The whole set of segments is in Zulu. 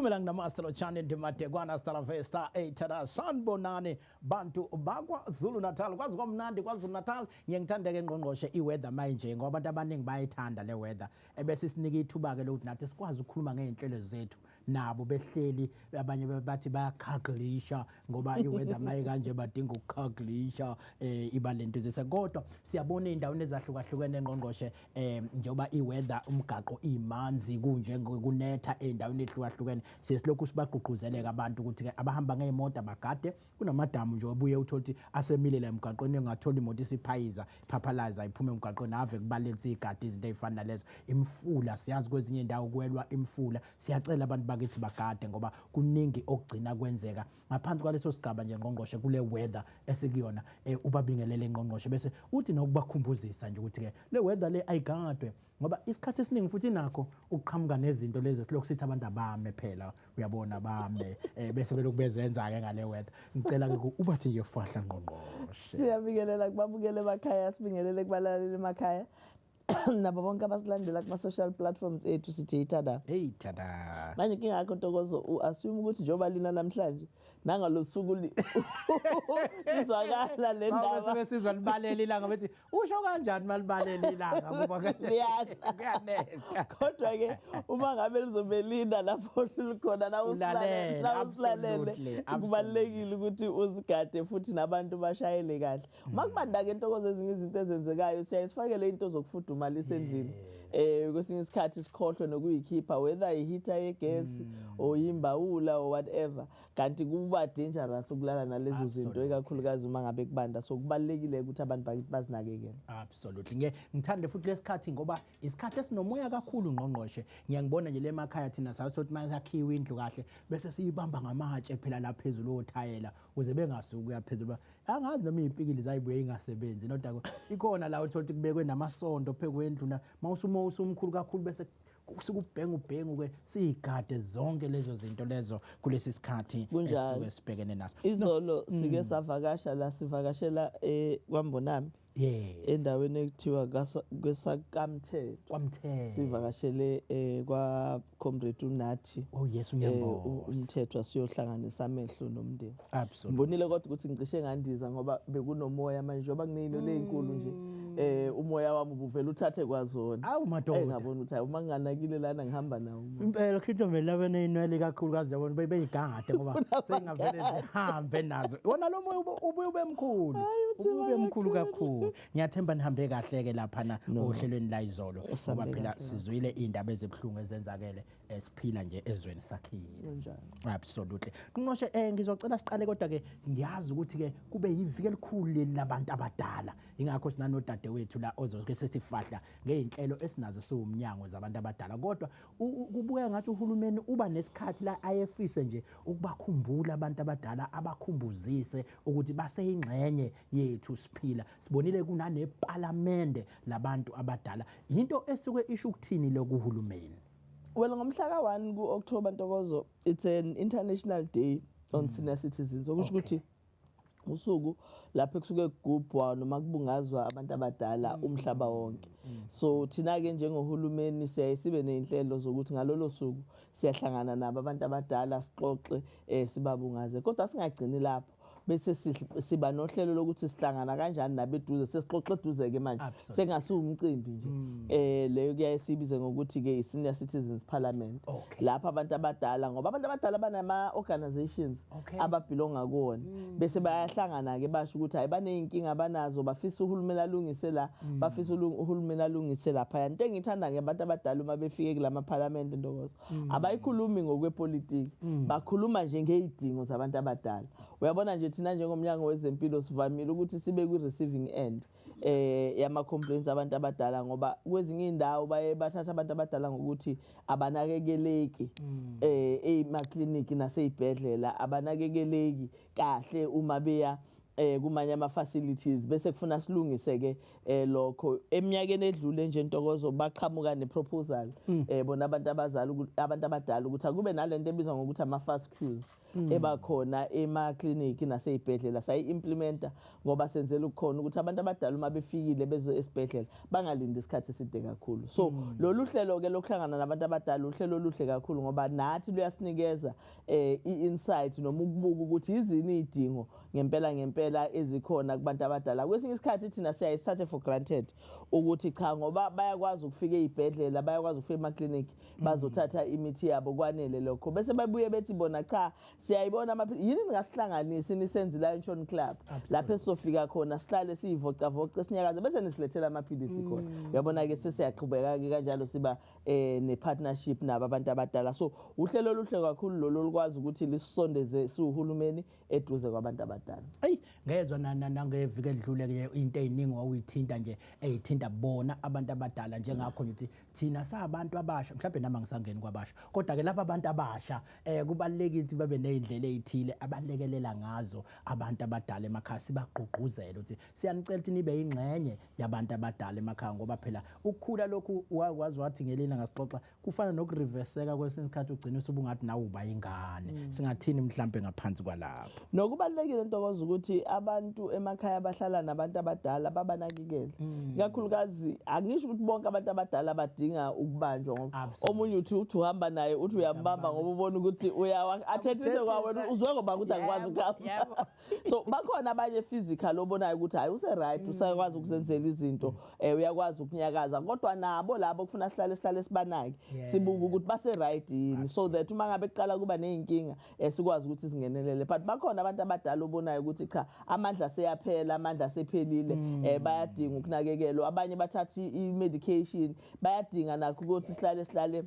dumelang namaste lotshani ndimadekwana hasta la vesta ethada sanibonani bantu bakwazulu natal kwazi kwamnandi kwazulu natal ngiye ngithandeke ngqongqoshe iweather manje ngoba abantu abaningi bayayithanda le weather ebese isinika ithuba-ke lokuthi nathi sikwazi ukukhuluma ngey'nhlelo zethu nabo behleli abanye ba- bathi bayakhaglisha ngoba iweather maye kanje badinga ukukhaglisha eh ibalentuzisa kodwa siyabona indaweni ezahlukahlukene ngqongqoshe eh njengoba iweather umgaqo imanzi kunje ngo- kunetha endaweni ehlukahlukene siyesilokhu sibagqugquzeleka abantu ukuthi ke abahamba ngeemoto bagade kunamadamu nje obuye uthole ukuthi asemile la emgaqweni engathola imoto isiphayiza iphaphalaza iphume emgaqweni ave kubaleka ukuthi igadi izinto ey'fana nalezo imfula siyazi kwezinye indawo kwelwa imfula siyacela abantu bakithi bagade ngoba kuningi okugcina kwenzeka ngaphansi kwaleso sigaba nje ngqongqoshe kule weather esikuyona um ubabingelele ngqongqoshe bese uthi nokubakhumbuzisa nje ukuthi-ke le weather le ayigadwe ngoba isikhathi esiningi futhi nakho ukuqhamuka nezinto lezi esilokhu sithi abantu abame phela uyabona bame eh, bese belokhu bezenza ke ngale weather ngicela ke ubathi nje fahla ngqongqoshe siyabingelela kubabukele emakhaya sibingelele kubalaleli emakhaya nabo bonke abasilandela kuma-social platforms ethu sithi ithada eyi thada manje kingakho ntokozo u-assume ukuthi njengoba lina namhlanje nangalosuku lizwakala le ndaba bese besizwa libalele ilanga bethi usho kanjani malibalele ilanga ngoba kuyanetha kodwa ke uma ngabe lizobelinda lapho likhona na usilalele na usilalele kubalekile ukuthi uzigade futhi nabantu bashayele kahle uma mm. kubandake intokozo ezinye izinto ezenzekayo siyaye sifakele into zokufudumalisa endlini um kwesinye isikhathi sikhohlwe nokuyikhipha whether yihita yegesi mm. or yimbawula or whatever kanti kuba dangerous ukulala nalezo zinto ekakhulukazi uma ngabe kubanda so kubalulekile ukuthi abantu bakithi bazinakekele absolutely nge ngithande futhi lesikhathi ngoba isikhathi esinomoya kakhulu ngqongqoshe ngiyangibona nje lemakhaya thina sasothi manje sakhiwa indlu kahle bese siyibamba ngamatshe phela la phezulu othayela uze bengasuki uyaphezulu angazi noma iy'pikili zayibuye ingasebenzi nodako ikhona la utholukuthi kubekwe namasondo phekwendlu na mawusumo usumkhulu kakhulu bese sikubhenga ubhengu ke siyigade zonke lezo zinto lezo kulesi sikhathi esisuke sibhekene naso izolo sike mm. savakasha la sivakashela eh, kwambonami Yes. Endaweni ekuthiwa kwesakamthelo. KwaMthelo. Sivakashele eh kwa Comrade Unathi. Oh yes unyambozi. Eh, umthethwa siyohlanganisa amehlo nomndeni. Absolutely. Ngibonile kodwa ukuthi ngicishe ngandiza ngoba bekunomoya manje njengoba kuneyino mm. lezinkulu nje. Eh umoya wami ubuvela uthathe kwazona. Awu madoda. Engabona ukuthi uma nginganakile lana ngihamba nawo. impela khitho vele beneyinwele ikakhulukazi yabona beyigangade ngoba sengavele zihambe nazo wona lo moya ubuye ube mkhulu ube mkhulu kakhulu ngiyathemba nihambe kahle ke lapha na ohlelweni la izolo ngoba phela sizwile indaba ezibuhlungu ezenzakele esiphila nje ezweni sakhile absolutely kunqoshe eh ngizocela siqale kodwa ke ngiyazi ukuthi ke kube yivike elikhulu leli labantu abadala ingakho sinanodade wethu la ozoke sesifahla ngey'nhlelo esinazo siwumnyango zabantu abadala kodwa kubuya ngathi uhulumeni uba nesikhathi la ayefise nje ukubakhumbula abantu abadala abakhumbuzise ukuthi baseyingxenye yethu siphila sibonile kunanepalamende labantu abadala yinto esuke isho ukuthini lokuhulumeni well ngomhla ka-1 ku-october ntokozo it's an international day on mm. senior citizens okusho ukuthi okay. usuku lapho kusuke kugubhwa noma kubungazwa abantu abadala mm. umhlaba wonke mm. so thina-ke njengohulumeni siyaye sibe ney'nhlelo zokuthi ngalolo suku siyahlangana nabo abantu abadala sixoxe um sibabungaze kodwa singagcini lapho bese siba nohlelo lokuthi sihlangana kanjani nabeduze sesixoxe eduze-ke manje sengasiwumcimbi nje um leyo kuyaye siyibize ngokuthi-ke i-senior citizens parliament lapho abantu abadala ngoba abantu abadala banama-organizations Okay. ababhilonga kuwona mm. bese bayahlangana ke basho ukuthi hayi baneyinkinga abanazo bafisa uhulumeni alungise la mm. bafisa uhulumeni alungise lapha yanto engithanda ke abantu abadala uma befike kulama parliament ndokozo mm. abayikhulumi ngokwepolitiki mm. bakhuluma nje ngezidingo zabantu abadala uyabona nje thina njengomnyango wezempilo sivamile ukuthi sibe kwi receiving end mm. eh yama complaints abantu abadala ngoba kwezinye indawo baye bathatha abantu abadala ngokuthi abanakekeleki mm. eh ema clinic nasezibhedlela abanakekeleki kahle uma beya eh kumanye ama facilities bese kufuna silungise ke eh lokho eminyakeni edlule nje intokozo baqhamuka ne proposal mm. eh bona abantu abazali abantu abadala ukuthi akube nalento ebizwa ngokuthi ama fast queues mm. eba khona emakliniki nasey'bhedlela sayi-implimenta ngoba senzela ukukhona ukuthi abantu abadala uma befikile bezo esibhedlela bangalindi isikhathi eside kakhulu so mm. lolu hlelo-ke lokuhlangana nabantu abadala uhlelo oluhle kakhulu ngoba nathi luyasinikeza um i-insight noma ukubuka ukuthi yizini iy'dingo ngempela ngempela ezikhona kubantu abadala kwesinye isikhathi thina siyayisithathe for granted ukuthi cha ngoba bayakwazi ukufika ezibhedlela bayakwazi ukufika ema clinic mm. bazothatha imithi yabo kwanele lokho bese babuye bethi bona cha siyayibona amaphilisi yini ningasihlangani sini senzi la Nshon Club lapho esofika khona sihlale siyivoca voca sinyakaze bese nisilethela amaphilisi khona mm. yabona ke sesiyaqhubeka ke kanjalo siba eh ne partnership nabo abantu abadala so uhlelo oluhle kakhulu lolu olukwazi ukuthi lisondeze siwuhulumeni eduze kwabantu abadala eyi ngezwa nangeviki edlule ke into eziningi wawuyithinta nje eyithinta bona abantu abadala njengakho ngithi thina sabantu abasha mhlawumbe nama ngisangeni kwabasha kodwa ke laba abantu abasha eh kubalekile ukuthi babe nezindlela ezithile abalekelela ngazo abantu abadala emakhaya sibagqugquzela ukuthi siyanicela ukuthi nibe ingxenye yabantu abadala emakhaya ngoba phela ukukhula lokhu wakwazi wathi ngelina ngasixoxa kufana nokuriveseka kwesinye isikhathi ugcina usubungathi nawe uba ingane mm. singathini mhlambe ngaphansi kwalapho nokubalekile ntokoza ukuthi abantu emakhaya abahlala nabantu abadala babanakekele mm. kakhulukazi angisho ukuthi bonke abantu abadala badinga ukubanjwa ngoba omunye uthi uthi uhamba naye uthi uyambamba ngoba ubona ukuthi uyawa athethise kwawena uzwe ngoba ukuthi akwazi ukuhamba so bakhona abanye physical obonayo ukuthi hayi use right mm. usakwazi ukuzenzela izinto eh uyakwazi ukunyakaza kodwa nabo labo kufuna sihlale sihlale sibanake sibuka ukuthi base right yini so that uma ngabe kuqala kuba nezinkinga esikwazi eh, ukuthi singenelele but bakhona abantu abadala obonayo ukuthi cha amandla seyaphela amandla sephelile mm. eh bayadinga ukunakekelwa abanye bathatha i medication bayadinga nakho ukuthi sihlale sihlale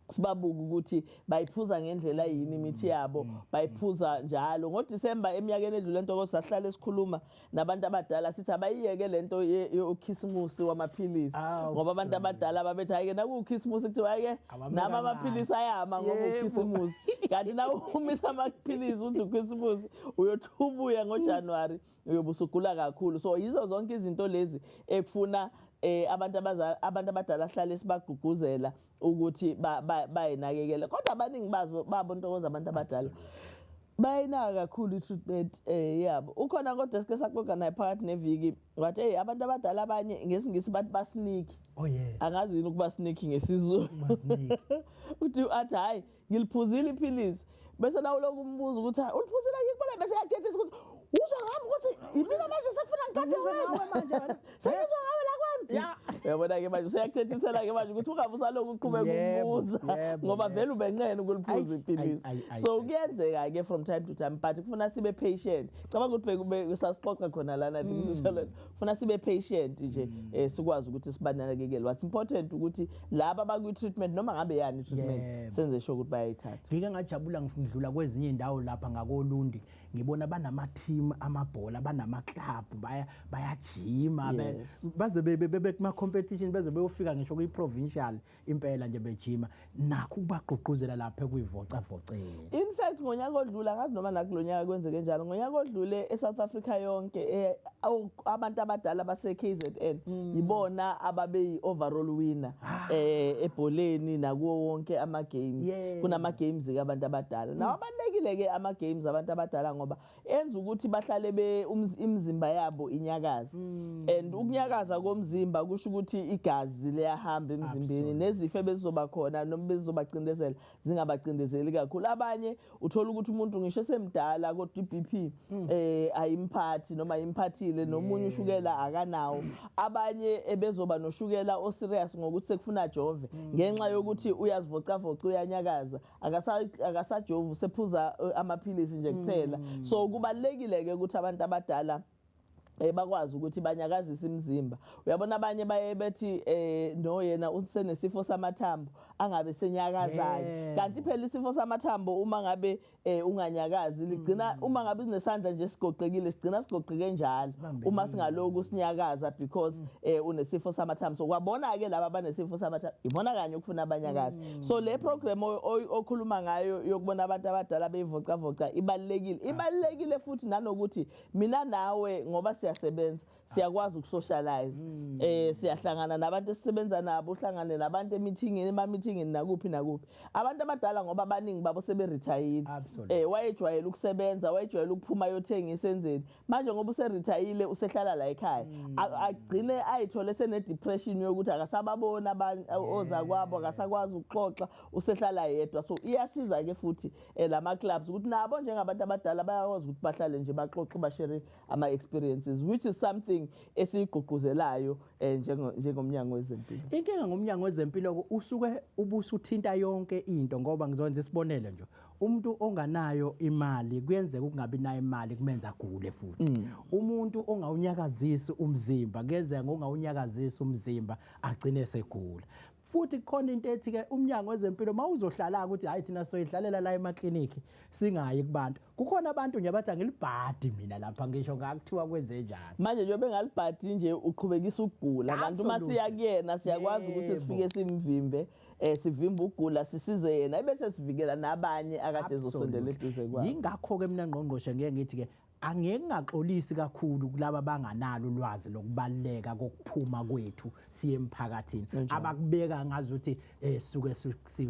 sibabuka ukuthi bayiphuza ngendlela yini imithi mm, yabo mm, bayiphuza mm. njalo ngoDisemba eminyakeni edlule ntokozo sahlala esikhuluma nabantu abadala sithi abayiyeke lento yokhisimusi wamaphilisi ah, ngoba abantu abadala babethi hayi ke nakukhisimusi kuthiwa hayi ke nama amaphilisi ayama ngoba ukhisimusi kanti na umisa amaphilisi uthi ukhisimusi uyothubuya ngoJanuary uyobe usugula kakhulu so yizo zonke izinto lezi ekufuna eh abantu abazali abantu abadala sihlale sibagqugquzela ukuthi bayinakekele kodwa abaningi bazo babo ntokoza abantu abadala bayinaka kakhulu i-treatment eh yabo ukhona kodwa sike saxoxa naye phakathi neviki wathi hey abantu abadala abanye ngesingisi bathi basiniki oh yeah angazi yini ukuba siniki ngesizulu uthi athi hayi ngiliphuzile iphilisi bese nawe lokhu umbuza ukuthi "Ha, uliphuzile yini kubona bese yathethisa ukuthi uzwa ngami ukuthi yimina manje sekufuna ngigade Ngizwa ngawe wena manje wena. sengizwa ngawe la kwami Ya. uyabona-ke manje useyakuthethisela-ke manje ukuthi ungabe usalokhu uqhubeka Yebo, umbuza yebo, ngoba yebo. vele ubenqena ukuliphuza Ayi, iphilisi ayi, ayi, ayi, so ayi. kuyenzeka-ke from time to time but kufuna sibe patient cabanga ukuthi beku- be- sasixoxa khona lana I think sisho lento. funa sibe patient nje mm. eh sikwazi ukuthi sibanakekele what's important ukuthi laba bakwi treatment noma ngabe yani treatment senze sho ukuthi bayayithatha ngike ngajabula ngidlula kwezinye indawo lapha ngakolundi ngibona banama team amabhola banama club baya bayajima baze bebe kuma competition beze beyofika ngisho kwi provincial impela nje bejima nakho ukubagqugquzela lapha ekuyivocavoceni in fact ngonyaka odlule angazi noma nakulonyaka kwenzeke njalo ngonyaka odlule eSouth Africa yonke eh, abantu abadala base KZN hmm. yibona ababeyi overall winner ah. eh ebholeni nakuwo wonke ama games kunama games ke abantu abadala nawabalekile ke ama games abantu abadala ngoba enza ukuthi bahlale be imizimba yabo inyakaza mm. and ukunyakaza komzimba kusho ukuthi igazi liyahamba emzimbeni nezifo bezizoba khona noma bezizobacindezela zingabacindezeli kakhulu abanye uthola ukuthi umuntu ngisho semdala kodwa iBP mm. eh ayimphathi noma imphathile nomunye ushukela akanawo abanye ebezoba noshukela oserious ngokuthi sekufuna jove mm. ngenxa yokuthi uyazivocavoca uyanyakaza akasajovu sephuza eh, amaphilisi nje kuphela mm. so kubalekile ke ukuthi abantu abadala eh bakwazi ukuthi banyakazise imizimba uyabona abanye baye bethi eh no yena usenesifo samathambo angabe senyakazayo kanti phela isifo samathambo uma ngabe eh unganyakazi ligcina mm. uma ngabe unesandla nje sigoqekile sigcina sigoqeke njalo uma singaloku sinyakaza because mm. eh unesifo samathambo so kwabona ke laba banesifo samathambo ibona kanye ukufuna abanyakazi mm. so le program okhuluma ngayo yokubona abantu abadala beyivocavoca ibalulekile ah. ibalulekile futhi nanokuthi mina nawe ngoba siyasebenza ah. siyakwazi ukusocialize mm. eh siyahlangana nabantu esisebenza nabo uhlangane nabantu emithingini emamithingini nakuphi nakuphi abantu abadala ngoba abaningi babo seberetire eh wayejwayela ukusebenza wayejwayela ukuphuma yothengisa enzeni manje ngoba userithayile usehlala la ekhaya mm. agcine ayithole sene-depression yokuthi akasababona oza kwabo akasakwazi ukuxoxa usehlala yedwa so iyasiza-ke futhi eh, la ma-clubs ukuthi nabo njengabantu abadala bayakwazi ukuthi bahlale nje baxoxe bashere ama-experiences which is something esiyigqugquzelayo eh, um njengomnyango wezempilo inkinga ngomnyango wezempilo-ke usuke ubusuthinta yonke into ngoba ngizokwenza isibonelo nje umuntu onganayo imali kuyenzeka ukungabi nayo imali kumenza agule futhi mm. umuntu ongawunyakazisi umzimba kuyenzeka ngongawunyakazisi umzimba agcine segula futhi kukhona into ethi ke umnyango wezempilo mawuzohlala ukuthi hayi thina soyidlalela la emaclinic singayi kubantu kukhona abantu nje abathi angilibhadi mina lapha ngisho ngakuthiwa kwenze njani manje nje bengalibhadi nje uqhubekisa ukugula kanti uma siya kuyena siyakwazi ukuthi sifike simvimbe eh sivimba ukugula sisize yena ebese sivikela nabanye akade ezosondela eduze kwakhe yingakho ke mina ngqongqoshe ngeke ngithi ke angeke ngaxolisi kakhulu kulaba banganalo ulwazi lokubaleka kokuphuma kwethu siye emphakathini abakubeka ngazi ukuthi eh suke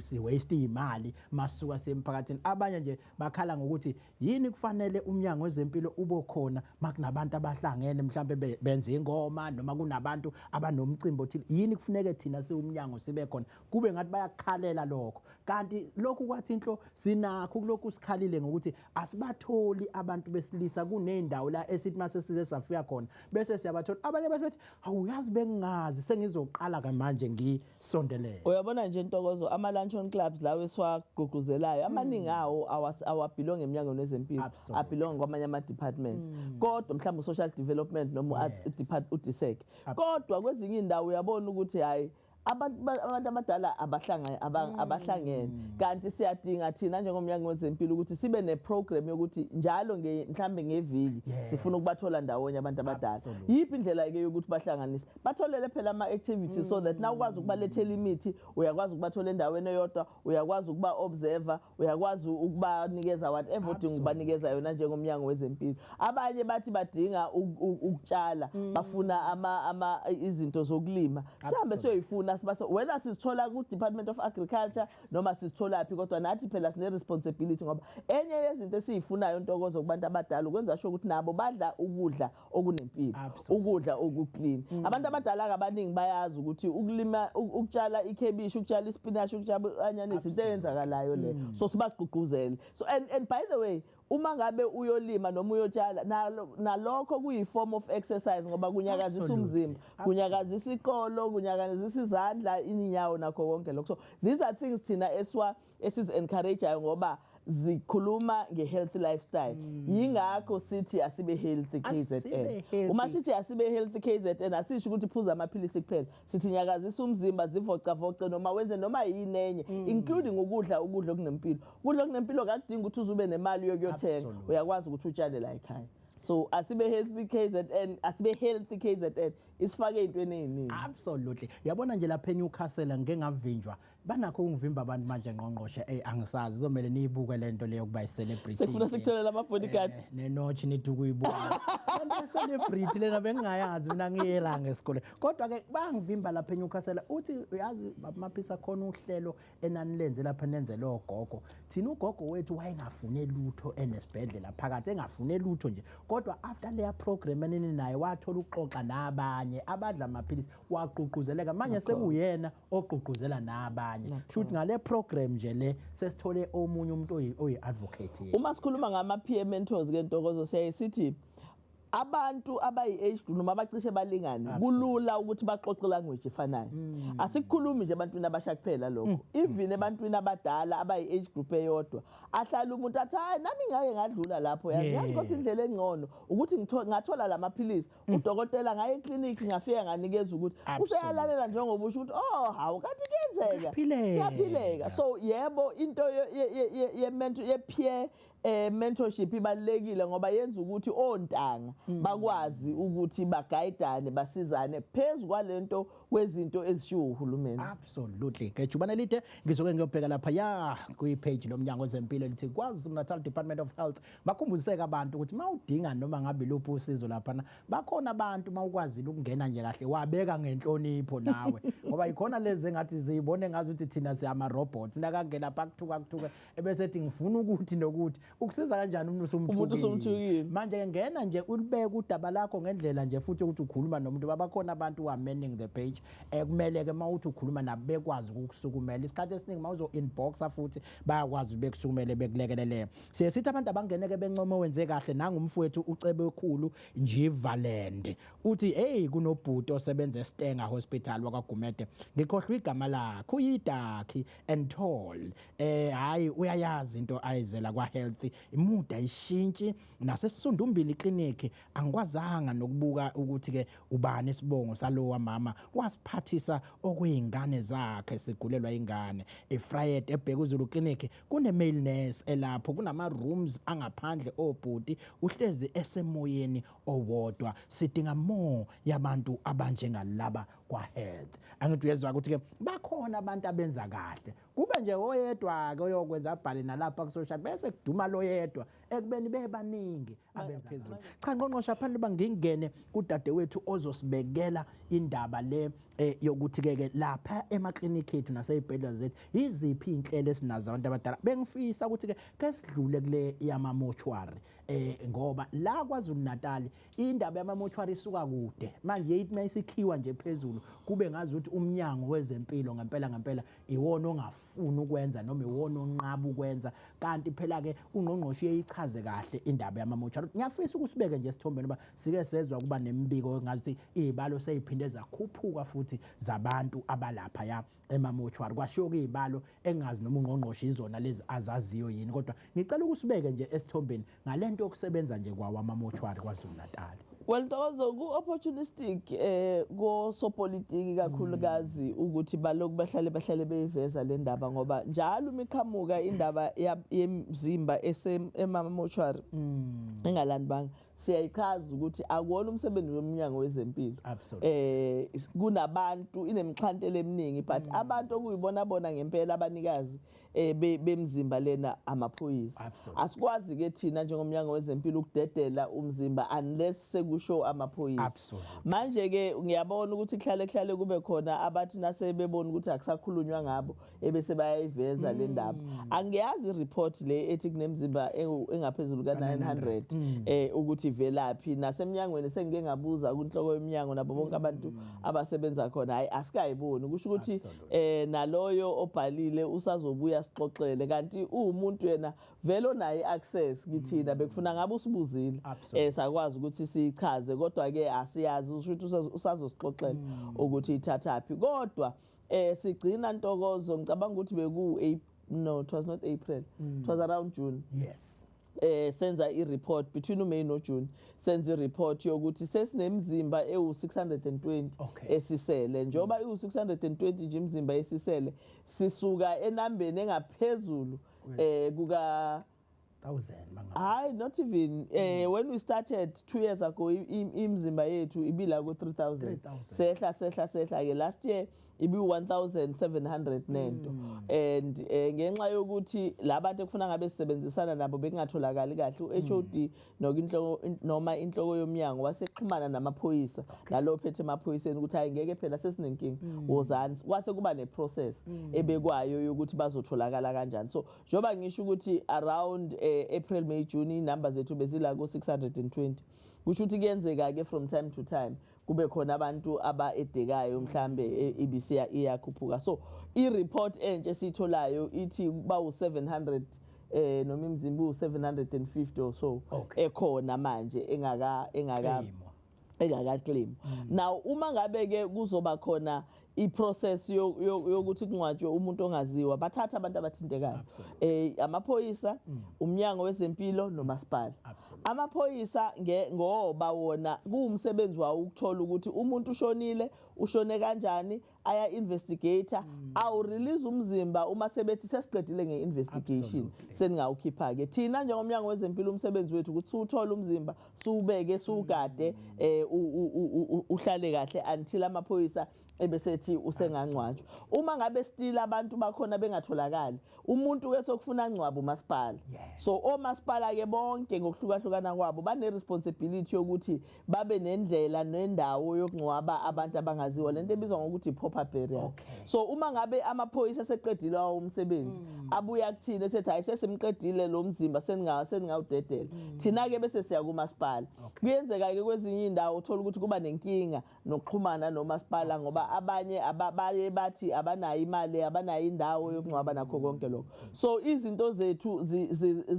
si waste imali masuka siye emphakathini abanye nje bakhala ngokuthi Yini kufanele umnyango wezempilo ubokhona makunabantu abahlangene mhlambe benze ingoma noma kunabantu abanomcimbi othile yini kufuneke thina siwumnyango sibe khona kube ngathi bayakukhalela lokho kanti lokhu kwathi inhlo sinakho kulokhu sikhalile ngokuthi asibatholi abantu besilisa kunendawo la esithi mase size safika khona bese siyabathola abanye bathi awuyazi bengazi sengizoqala kamanje ngi sondelele uyabona nje ntokozo ama lunch on clubs lawo esiwagqugquzelayo mm. amaningi awo awabhilonga emnyangweni wezempilo abhilonga kwamanye ama departments mm. kodwa mhlawumbe social development noma arts department udisek kodwa kwezinye indawo uyabona ukuthi hayi abantu abantu abadala abahlangene mm. abahlangene kanti siyadinga thina njengomnyango wezempilo ukuthi sibe neprogram yokuthi njalo mhlambe ngeviki sifuna ukubathola ndawonye abantu abadala yiphi indlela ke yokuthi bahlanganise batholele phela ama-activity so that na ukwazi ukubalethela imithi uyakwazi ukubathola endaweni eyodwa uyakwazi ukuba-observer uyakwazi ukubanikeza whatever udinga ukubanikeza yona njengomnyango wezempilo abanye bathi badinga uk- uk- ukutshala Mm. bafuna ama, ama, izinto zokulima sihambe siyoyifuna sibaso whether sizithola ku-department of agriculture noma sizitholaphi kodwa nathi phela sine-responsibility ngoba enye yezinto esiyifunayo ntokozo kubantu abadala ukwenza sho ukuthi nabo badla ukudla okunempilo Absolutely. ukudla okuclean abantu abadala kabaningi bayazi ukuthi ukulima u- ukutshala ikhebishi ukutshala ispinashi ukutshala u-anyanisi into eyenzakalayo le so sibagqugquzele so and, and by the way uma ngabe uyolima noma uyotshala nalo- nalokho kuyi-form of exercise ngoba kunyakazisa Absolutely. umzimba kunyakazisa iqolo kunyakazisa izandla inyawo nakho konke lokho so these are things thina esiwa esizi encourageayo ngoba zikhuluma nge healthy lifestyle mm. yingakho sithi asibe healthy KZN uma sithi asibe healthy KZN asisho ukuthi phuza amaphilisi kuphela sithi nyakazisa umzimba zivoca voce noma wenze noma yini enye mm. including ukudla ukudla okunempilo ukudla okunempilo akudingi ukuthi uzube nemali yokuyothenga uyakwazi ukuthi utshale la ekhaya so asibe healthy KZN asibe healthy KZN isifake into eningi absolutely yabona nje lapha eNewcastle ngengavinjwa banakho ukungivimba abantu manje ngqongqoshe ey angisazi izomele niyibuke lento leyo kuba i-celebrity sekufuna sikutholela ama-bodyguard eh, nenotch nithi ukuyibuka abantu be-celebrity lena bengingayazi mina ngiyelanga esikoleni kodwa-ke bangivimba lapha enyukhasela uthi uyazi maphisa khona uhlelo enanilenze lapha enenzele ogogo thina ugogo wethu wayengafune lutho enesibhedlela phakathi engafune lutho nje kodwa after leya program enini naye wathola ukuxoxa nabanye abadla amaphilisi wagqugquzeleka manje sekuyena ogqugquzela nabanye shuthi ngale program nje le sesithole omunye umuntu oyi advocate yena uma sikhuluma ngama PM mentors ke Ntokozo siyaye sithi abantu abayi age group noma abacishe balingane kulula ukuthi baxoxe language efanayo mm. asikhulumi nje ebantwini abasha kuphela lokho mm. even mm. ebantwini abadala abayi age group eyodwa ahlala umuntu athi hayi nami ngake ngadlula lapho yazi yazi kodwa indlela engcono ukuthi ngathola lamaphilisi Mm. udokotela ngaye eclinic ngafika nganikeza ukuthi useyalalela njengoba usho ukuthi oh hawu kanti kuyenzeka kuyaphileka so yebo into ye-mental ye-peer eh mentorship ibalekile ngoba yenza ukuthi ontanga mm. bakwazi ukuthi bagayidane basizane phezulu kwalento kwezinto ezishiwo uhulumeni absolutely ke jubana lide ngizoke ngiyobheka lapha ya kwi page lomnyango wezempilo lithi kwaZulu Natal Department of Health Bakhumbuziseke abantu ukuthi uma udinga noma ngabe luphi usizo laphana bakhona abantu uma ukwazile ukungena nje kahle wabeka ngenhlonipho nawe ngoba yikhona lezi engathi ziyibone ngazi ukuthi thina siyama robot funa kangena pakuthuka kuthuka ebese ethi ngifuna ukuthi nokuthi ukusiza kanjani umuntu usumthukile manje ke ngena nje ulibeke udaba lakho ngendlela nje futhi ukuthi ukhuluma nomuntu babakhona abantu who are manning the page ekumele eh, ke uma uthi ukhuluma nabo bekwazi ukukusukumela isikhathi esiningi uma uzo inboxa futhi bayakwazi bekusukumele bekulekelele siye sithi abantu abangeneke bencome wenze kahle nangumfowethu ucebe okhulu njivalend uthi hey kunobhuti osebenza eStenga Hospital wakwaGumede ngikhohlwa igama lakhe uyidakhi and tall eh hayi uyayazi into ayizela kwa healthy imuda ishintshi nasesundumbili clinic angikwazanga nokubuka ukuthi ke ubani isibongo salowa mama wasiphathisa okuyingane zakhe sigulelwa ingane eFried ebheka uZulu clinic kune male nurse elapho kunama rooms angaphandle obhuti uhlezi esemoyeni owodwa sidinga more yabantu abanjengalaba kwa health angithi uyezwa ukuthi ke bakhona abantu abenza kahle kube nje oyedwa ke oyokwenza abhale nalapha ku social bese kuduma loyedwa ekubeni bebaningi abenza phezulu cha nqonqosha phandle bangingene kudadewethu ozosibekela indaba le eh, yokuthi ke ke lapha emaclinic ethu nasezibhedlela zethu yiziphi inhlelo esinazo abantu abadala bengifisa ukuthi ke ke sidlule kule yama mortuary eh ngoba la kwaZulu Natal indaba yama mortuary isuka kude manje yayithimayisikhiwa nje phezulu kube ngazi ukuthi umnyango wezempilo ngempela ngempela iwona ongafuni ukwenza noma iwona onqaba ukwenza kanti phela ke ungqongqoshe uyeyichaze kahle indaba yamamochari ngiyafisa ukusibeke nje sithombeni uba sike sezwa kuba nemibiko engathi izibalo seyiphinde zakhuphuka futhi zabantu abalapha ya emamochwari kwashiwo kuyibalo engazi noma ungqongqoshe izona lezi azaziyo yini kodwa ngicela ukusibeke nje esithombeni ngale nto yokusebenza nje kwawo amamoshwari kwazulu-natal well ntokozo ku-opportunistic um eh, kosopolitiki kakhulukazi mm. ukuthi baloku bahlale bahlale beyiveza le ndaba ngoba njalo uma iqhamuka indaba yemzimba emamoshwari mm. engalandibanga siyayichaza ukuthi akuwona umsebenzi womnyango wezempilo eh kunabantu inemixhantela eminingi but mm. abantu okuyibona bona ngempela abanikazi eh be- bemzimba lena amaphoyisa Absolutely. asikwazi ke thina njengomnyango wezempilo ukudedela umzimba unless sekusho amaphoyisa Absolutely. manje ke ngiyabona ukuthi kuhlale kuhlale kube khona abathi nase bebona ukuthi akusakhulunywa ngabo ebese bayayiveza le ndaba Mm. angiyazi report le ethi kunemzimba engu- engaphezulu ka 900 Mm. eh ukuthi ivelaphi nasemnyangweni sengike ngabuza kunhloko yomnyango nabo bonke abantu Mm. abasebenza khona hayi asikayiboni kusho ukuthi eh naloyo obhalile usazobuya sixoxele kanti uwumuntu yena vele onayo iaccess kithina mm. bekufuna ngabe usibuzile eh sakwazi ukuthi sichaze kodwa ke asiyazi usho ukuthi usazosixoxela mm. ukuthi ithathaphi kodwa eh sigcina ntokozo ngicabanga ukuthi beku no it was not april mm. it was around june yes eh senza i-report between uMay noJune senza i-report yokuthi sesinemizimba ewu620 okay. esisele njengoba mm. iwu620 nje imizimba esisele sisuka enambeni engaphezulu eh kuka 1000 mangapha hayi not even eh mm. when we started 2 years ago imizimba yethu ibila ku 3000 sehla sehla sehla ke last year ibi 1700 nento hmm. and eh, ngenxa yokuthi labantu ekufuna ngabe sisebenzisana nabo bekungatholakali kahle uHOD hmm. nokinhloko noma inhloko yomnyango wasexhumana namaphoyisa nalo phethe emaphoyiseni ukuthi hayi ngeke phela sesinenkingi hmm. wozani kwase kuba ne process ebekwayo yokuthi bazotholakala kanjani so njoba ngisho ukuthi around eh, April May June number zethu bezila ku 620 kusho ukuthi kuyenzeka ke from time to time kube khona abantu abaedekayo mhlambe e, ibisiya iyakhuphuka so i report entshe sitholayo ithi bawu 700 eh noma imizimba u 750 or so okay. ekhona manje engaka engaka engaka claim mm. now uma ngabe ke kuzoba khona iprocess yokuthi kungcwatshwe umuntu ongaziwa bathatha abantu abathintekayo eh amaphoyisa mm. umnyango wezempilo nomasipala amaphoyisa ngoba wona kuwumsebenzi wawo ukuthola ukuthi umuntu ushonile ushone kanjani aya investigator mm. awu release umzimba uma sebethi sesiqedile ngeinvestigation seningawukhipha ke thina njengomnyango wezempilo umsebenzi wethu ukuthi uthola umzimba siwubeke siwugade eh uhlale kahle until amaphoyisa ebesethi usengangcwatshwa uma ngabe stila abantu bakhona bengatholakali umuntu ke sokufuna ngcwaba umasipala so omasipala ke bonke ngokuhlukahlukana kwabo bane responsibility yokuthi babe nendlela nendawo yokungcwaba abantu abangaziwa lento ebizwa ngokuthi proper burial so uma ngabe amaphoyisa seqedile umsebenzi mm. mm. abuye akuthini esethi hayi sesimqedile lo mzimba seningawudedela mm. thina-ke bese siya kumasipala kuyenzeka-ke kwezinye iy'ndawo uthole ukuthi kuba nenkinga nokuxhumana nomasipala ngoba abanye baye bathi abanayo imali abanayo indawo yokungcwaba nakho konke lokho so izinto zethu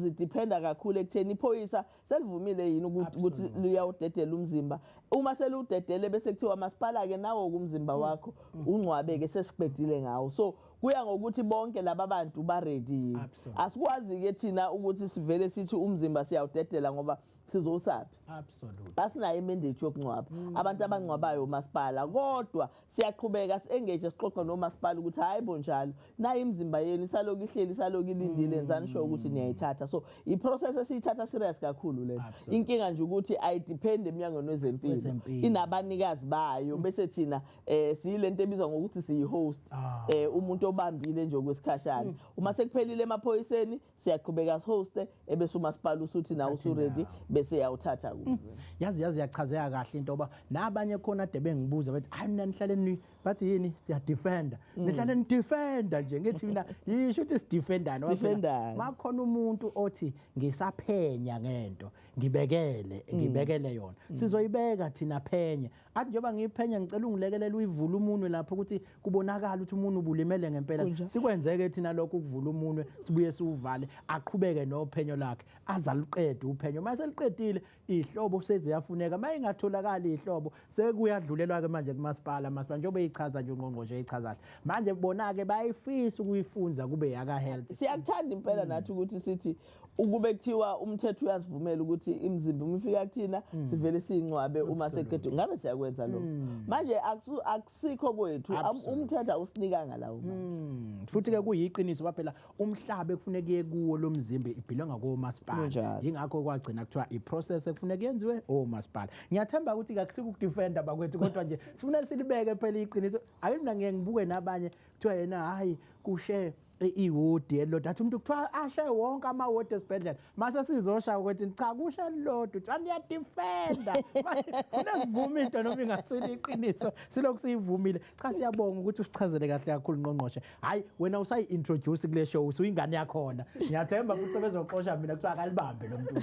zidiphenda kakhulu ekutheni iphoyisa selivumile yini ukuthi ukuthi Absolutely. luyawudedela umzimba uma seludedele bese kuthiwa masipala ke nawo kumzimba Mm. wakho ungcwabe ke sesiqedile ngawo so kuya ngokuthi bonke laba bantu ba ready yini Absolutely. asikwazi ke thina ukuthi sivele sithi umzimba siyawudedela ngoba sizosaphi Absolutely. asinayo imendate yokungcwaba abantu abangcwabayo umasipala kodwa Siyaqhubeka si-engage sixoxe nomasipala ukuthi hhayi bo njalo nayo imizimba yenu isalokhu ihleli isalokhu ilindile enzani sho ukuthi niyayithatha so i-process esiyithatha serious kakhulu lena Absolutely. inkinga nje ukuthi ayidiphende emnyangweni wezempilo Wezempilo. inabanikazi bayo bese thina um siyile nto ebizwa ngokuthi siyi-host Ah. um umuntu obambile nje okwesikhashana uma sekuphelile emaphoyiseni siyaqhubeka sihoste ebese umasipala usuthi nawo usuready bese yawuthatha kuze mm. yazi yazi yachazeka kahle into oba nabanye khona ade bengibuza bathi hayi mina nihlale ni bathi yini siya defender mm. nihlale ni defender nje ngithi mina yisho ukuthi sidefendana defendana makhona umuntu othi ngisaphenya ngento ngibekele mm. ngibekele yona sizoyibeka thina phenye athi njengoba ngiyiphenya ngicela ungilekelele uyivule umunwe lapho ukuthi kubonakala ukuthi umuntu ubulimele ngempela Kunjalo. sikwenzeke thina lokho ukuvula umunwe sibuye siwuvale aqhubeke nophenyo lakhe azaluqede uphenyo uma seliqedile ihlobo seze yafuneka uma ingatholakali ihlobo sekuyadlulelwa ke manje kumasipala masipala njengoba eyichaza nje ungqongqoshe eyichaza kahle manje bona-ke bayifisa ukuyifunza kube yaka-health siyakuthanda impela nathi ukuthi sithi ukube kuthiwa umthetho uyasivumela ukuthi imizimba uma ifika kuthina mm. sivele siyincwabe uma seqedwe ngabe siyakwenza lokho mm. manje akusikho kwethu umthetho awusinikanga lawo manje mm. futhi ke kuyiqiniso kwaphela umhlaba ekufuneka iye kuwo lo mzimba ibhilonga komasipala yingakho kwagcina kuthiwa iprocess ekufuneka yenziwe omasipala ngiyathemba ukuthi kakusiko ukudefenda bakwethu kodwa nje sifuna silibeke phela iqiniso ayi mina ngeke ngibuke nabanye kuthiwa yena hayi kushe iwodi elilodwa athi umuntu kuthiwa ashe wonke amawodi esibhedlela mase sizosha ukuthi cha kusha elilodwa uthi aniyadifenda kunesivume into noma ingasile iqiniso silokhu siyivumile cha siyabonga ukuthi usichazele kahle kakhulu ngqongqoshe hayi wena usayi-introduce kule show usuyingane yakhona ngiyathemba futhi sebezoxosha mina kuthiwa akalibambe lo muntu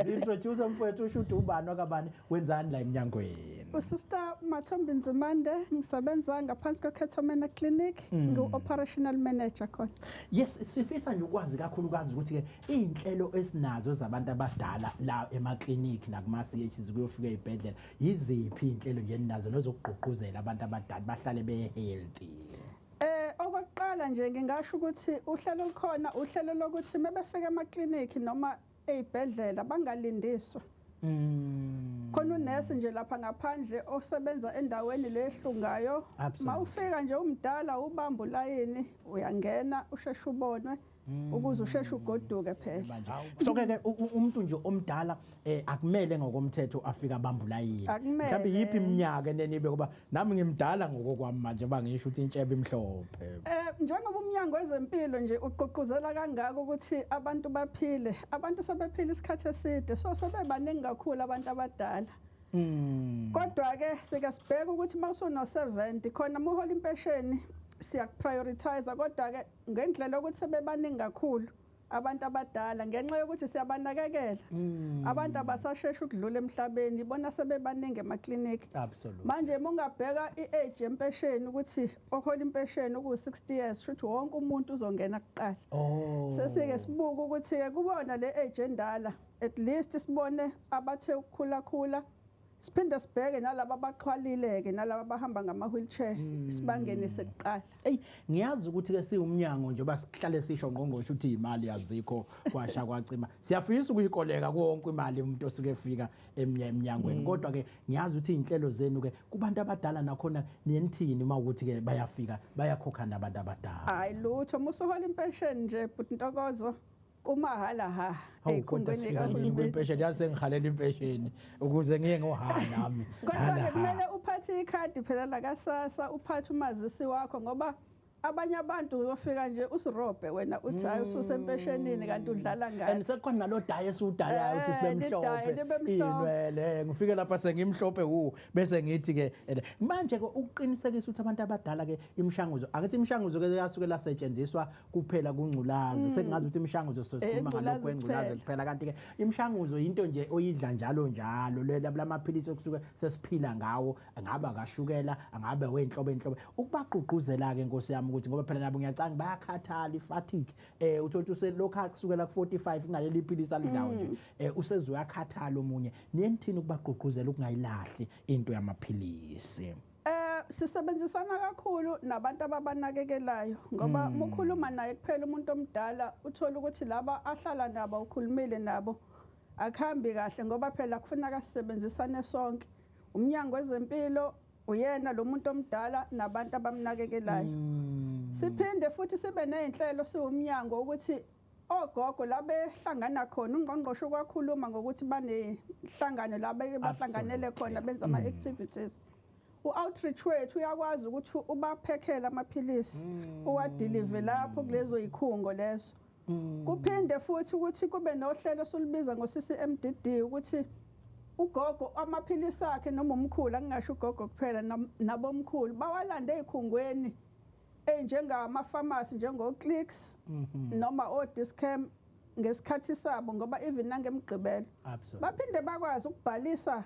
zi-introduce mfowethu usho ukuthi ubani wakabani wenzani la emnyangweni usister mathombi nzimande ngisebenza ngaphansi kwekhethomena clinic Mm. ngu-operational manager khona yes sifisa nje ukwazi kakhulukazi ukuthi-ke iy'nhlelo esinazo zabantu abadala la emaklinikhi nakuma-chs kuyofika ey'bhedlela yiziphi iy'nhlelo nje ninazo nezokugqugquzela abantu abadala bahlale be-healthy Eh okokuqala nje ngingasho ukuthi uhlelo lukhona uhlelo lokuthi mebefika emaklinikhi noma eyibhedlela bangalindiswa Mm. Khona unesi nje lapha ngaphandle osebenza endaweni lehlungayo. Mawufika nje umdala ubamba ulayini uyangena usheshe ubonwe. Mm. ukuze usheshe ugoduke phela so ke ke umuntu nje omdala eh akumele ngokomthetho afika bambulayini mhlawumbe yipi iminyaka enenibe kuba nami ngimdala ngokokwami manje uba ngisho ukuthi intshebe imhlophe eh njengoba umnyango wezempilo nje uqoquzela kangaka ukuthi abantu baphile abantu sebephila isikhathi eside so sebebaningi kakhulu abantu abadala Mm. Kodwa ke sike sibheke ukuthi mawusuno 70 khona muhola impesheni siyakuprioritize kodwa ke ngendlela ukuthi sebebaningi kakhulu abantu abadala ngenxa yokuthi siyabanakekela mm. abantu abasasheshe ukudlula emhlabeni ibona sebebaningi emaklinikhi manje uma ungabheka i-age yempesheni ukuthi ohola impesheni okuwu-60 years shuthi wonke umuntu uzongena kuqala oh. sesike sibuke ukuthi-ke kubona le age endala at least sibone abathe ukukhulakhula Siphinde sibheke nalabo abaxhwalile-ke nalabo abahamba ngama-wheelchair hmm. sibangenise kuqala. Eyi ngiyazi ukuthi-ke siwumnyango nje uba sihlale sisho ngqongqoshe ukuthi iy'mali azikho kwasha kwacima. Siyafisa ukuyikoleka konke imali umuntu osuke efika emnyangweni. Hmm. Kodwa-ke ngiyazi ukuthi iy'nhlelo zenu-ke kubantu abadala nakhona niye nithini uma ukuthi-ke bayafika bayakhokha nabantu abadala. Hhayi lutho, uma usuhola impesheni nje bhuti Ntokozo kumahhala ha Hawu kodwa eyikhundleni sifika nini likahulumeni kwimpesheni yase ngihalela impesheni ukuze ngiye ngoha nami. kodwa-ke Hala, ha. kumele uphathe ikhadi phela lakasasa uphathe umazisi wakho ngoba abanye abantu uyofika nje usirobhe wena uthi hayi ususempeshenini kanti udlala Mm. and ngathi sekhona nalo dayi esiwudalayo ukuthi Eh, sibe nidaye mhlophe nibe mhlophe. inwele ngifike lapha sengimhlophe wu bese ngithi ke and manje ke ukuqinisekisa ukuthi abantu abadala ke imishanguzo angithi imishanguzo ke yasuke lasetshenziswa kuphela kungculazi mm. sekungazi ukuthi imishanguzo eh, sosikhuluma ngalokho kwengculazi kuphela kanti ke imishanguzo into nje oyidla njalo njalo lela bulamaphilisi okusuke sesiphila ngawo ngaba kashukela ngabe wenhlobo enhlobo ukubagqugquzela ke nkosi yami ukuthi ngoba phela nabo ngiyacanga bayakhathala ifatigue eh uthola uselokhu akusukela ku45 kungaleli iphilisi alidlawo nje mm. eh usezoyakhathala omunye niyeni thina ukubagqugquzela ukungayilahli into yamaphilisi Eh sisebenzisana kakhulu nabantu ababanakekelayo ngoba hmm. mukhuluma naye kuphela umuntu omdala uthola ukuthi laba ahlala nabo ukhulumile nabo akuhambi kahle ngoba phela kufuneka sisebenzisane sonke umnyango wezempilo uyena lo muntu omdala nabantu abamnakekelayo hmm. siphinde futhi sibe nezinhlelo siwumnyango ukuthi ogogo la behlangana khona ungqongqoshe kwakhuluma ngokuthi banehlangano la beke bahlanganele khona benza ama activities u-outreach wethu uyakwazi ukuthi ubaphekhele amaphilisi mm. uwadilive lapho kulezo yikhungo lezo mm. kuphinde futhi ukuthi kube nohlelo osulubiza ngo-CCMDD ukuthi ugogo amaphilisi akhe noma umkhulu angingasho ugogo kuphela nabomkhulu bawalande ezikhungweni enjengamafamasi njengo-clicks mhm. noma o-discam ngesikhathi sabo ngoba even nangemgqibelo baphinde bakwazi ukubhalisa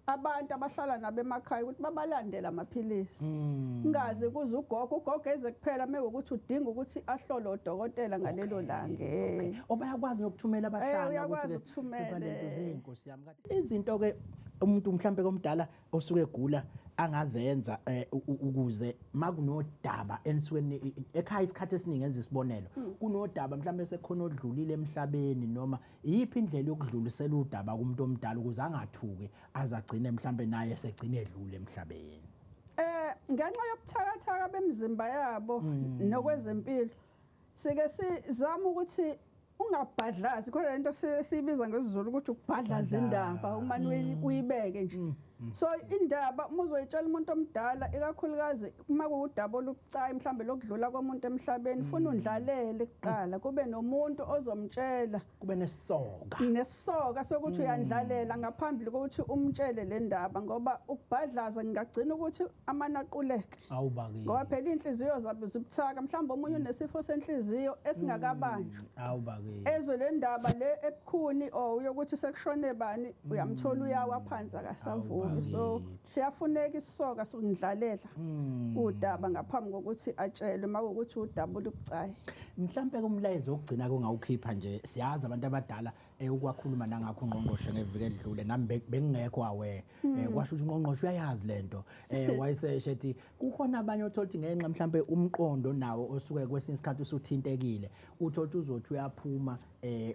abantu abahlala nabo emakhaya ukuthi babalandele amaphilisi mm. ngazi kuze ugogo ugogo eze kuphela mekukuthi udinga ukuthi ahlole odokotela ngalelo langa eh. obayakwazi oh, nokuthumela eh, abahlala ukuthi uthumele izinto ke umuntu mhlambe komdala osuke egula angazenza eh, ukuze makunodaba ensukwini ekhaya isikhathi esiningi enza isibonelo hmm. kunodaba mhlawumbe sekhona odlulile emhlabeni noma iyiphi indlela yokudlulisela udaba kumuntu omdala ukuze angathuki azagcine mhlawumbe naye segcine edlule emhlabeni eh ngenxa yobuthakathaka bemizimba yabo hmm. nokwezempilo sike sizama ukuthi ungabhadlazi khona lento siyibiza ngesiZulu ukuthi ukubhadlaza indaba uma mm. uyibeke nje mm. Mm. so indaba uma uzoyitshela umuntu omdala ikakhulukazi uma kuwudaba olubucayi mhlambe lokudlula komuntu emhlabeni funa undlalele kuqala kube nomuntu ozomtshela kube nesoka soka sokuthi uyandlalela mm. ngaphambili kokuthi umtshele le ndaba ngoba ukubhadlaza ngingagcina ukuthi amane aquleke awubaki ngoba phela inhliziyo zabe zibuthaka mhlawumbe omunye mm. unesifo senhliziyo esingakabanjwa mm. awubaki ezwe le ndaba le ebukhuni or uyokuthi sekushone bani uyamthola uyawa phansi akasavuki so Siyafuneka isisoka sokundlalela hmm. udaba ngaphambi kokuthi atshelwe makukuthi udaba olubucayi. Mhlambe kumlayezo ogcina kongawukhipha nje siyazi abantu abadala eh, ukwakhuluma nangakho ungqongqoshe ngeviki edlule nami bengingekho awe eh, hmm. kwasho ukuthi ungqongqoshe uyayazi lento eh wayeseshe ethi kukhona abanye otholti ngenxa mhlambe umqondo nawo osuke kwesinye isikhathi usuthintekile utholti uzothi uyaphuma eh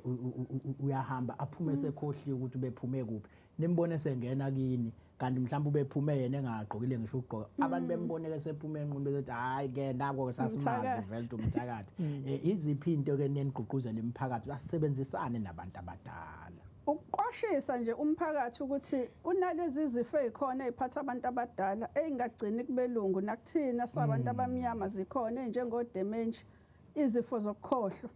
uyahamba aphume hmm. sekhohliwe ukuthi ubephume kuphi nimbone esengena kini kanti mhlawumbe ubephume yena engagqokile ngisho ukugqoka mm. abantu bemboneke esephume enqunu bezothi hayi ke nako ke sasimazi vele umthakathi mm. eh, iziphi into ke nenigqugquzela imiphakathi basebenzisane nabantu abadala ukuqwashisa nje umphakathi ukuthi kunalezi zifo ezikhona eziphatha abantu abadala ezingagcini kubelungu nakuthina sabantu mm. abamnyama zikhona njengo dementia izifo zokukhohlwa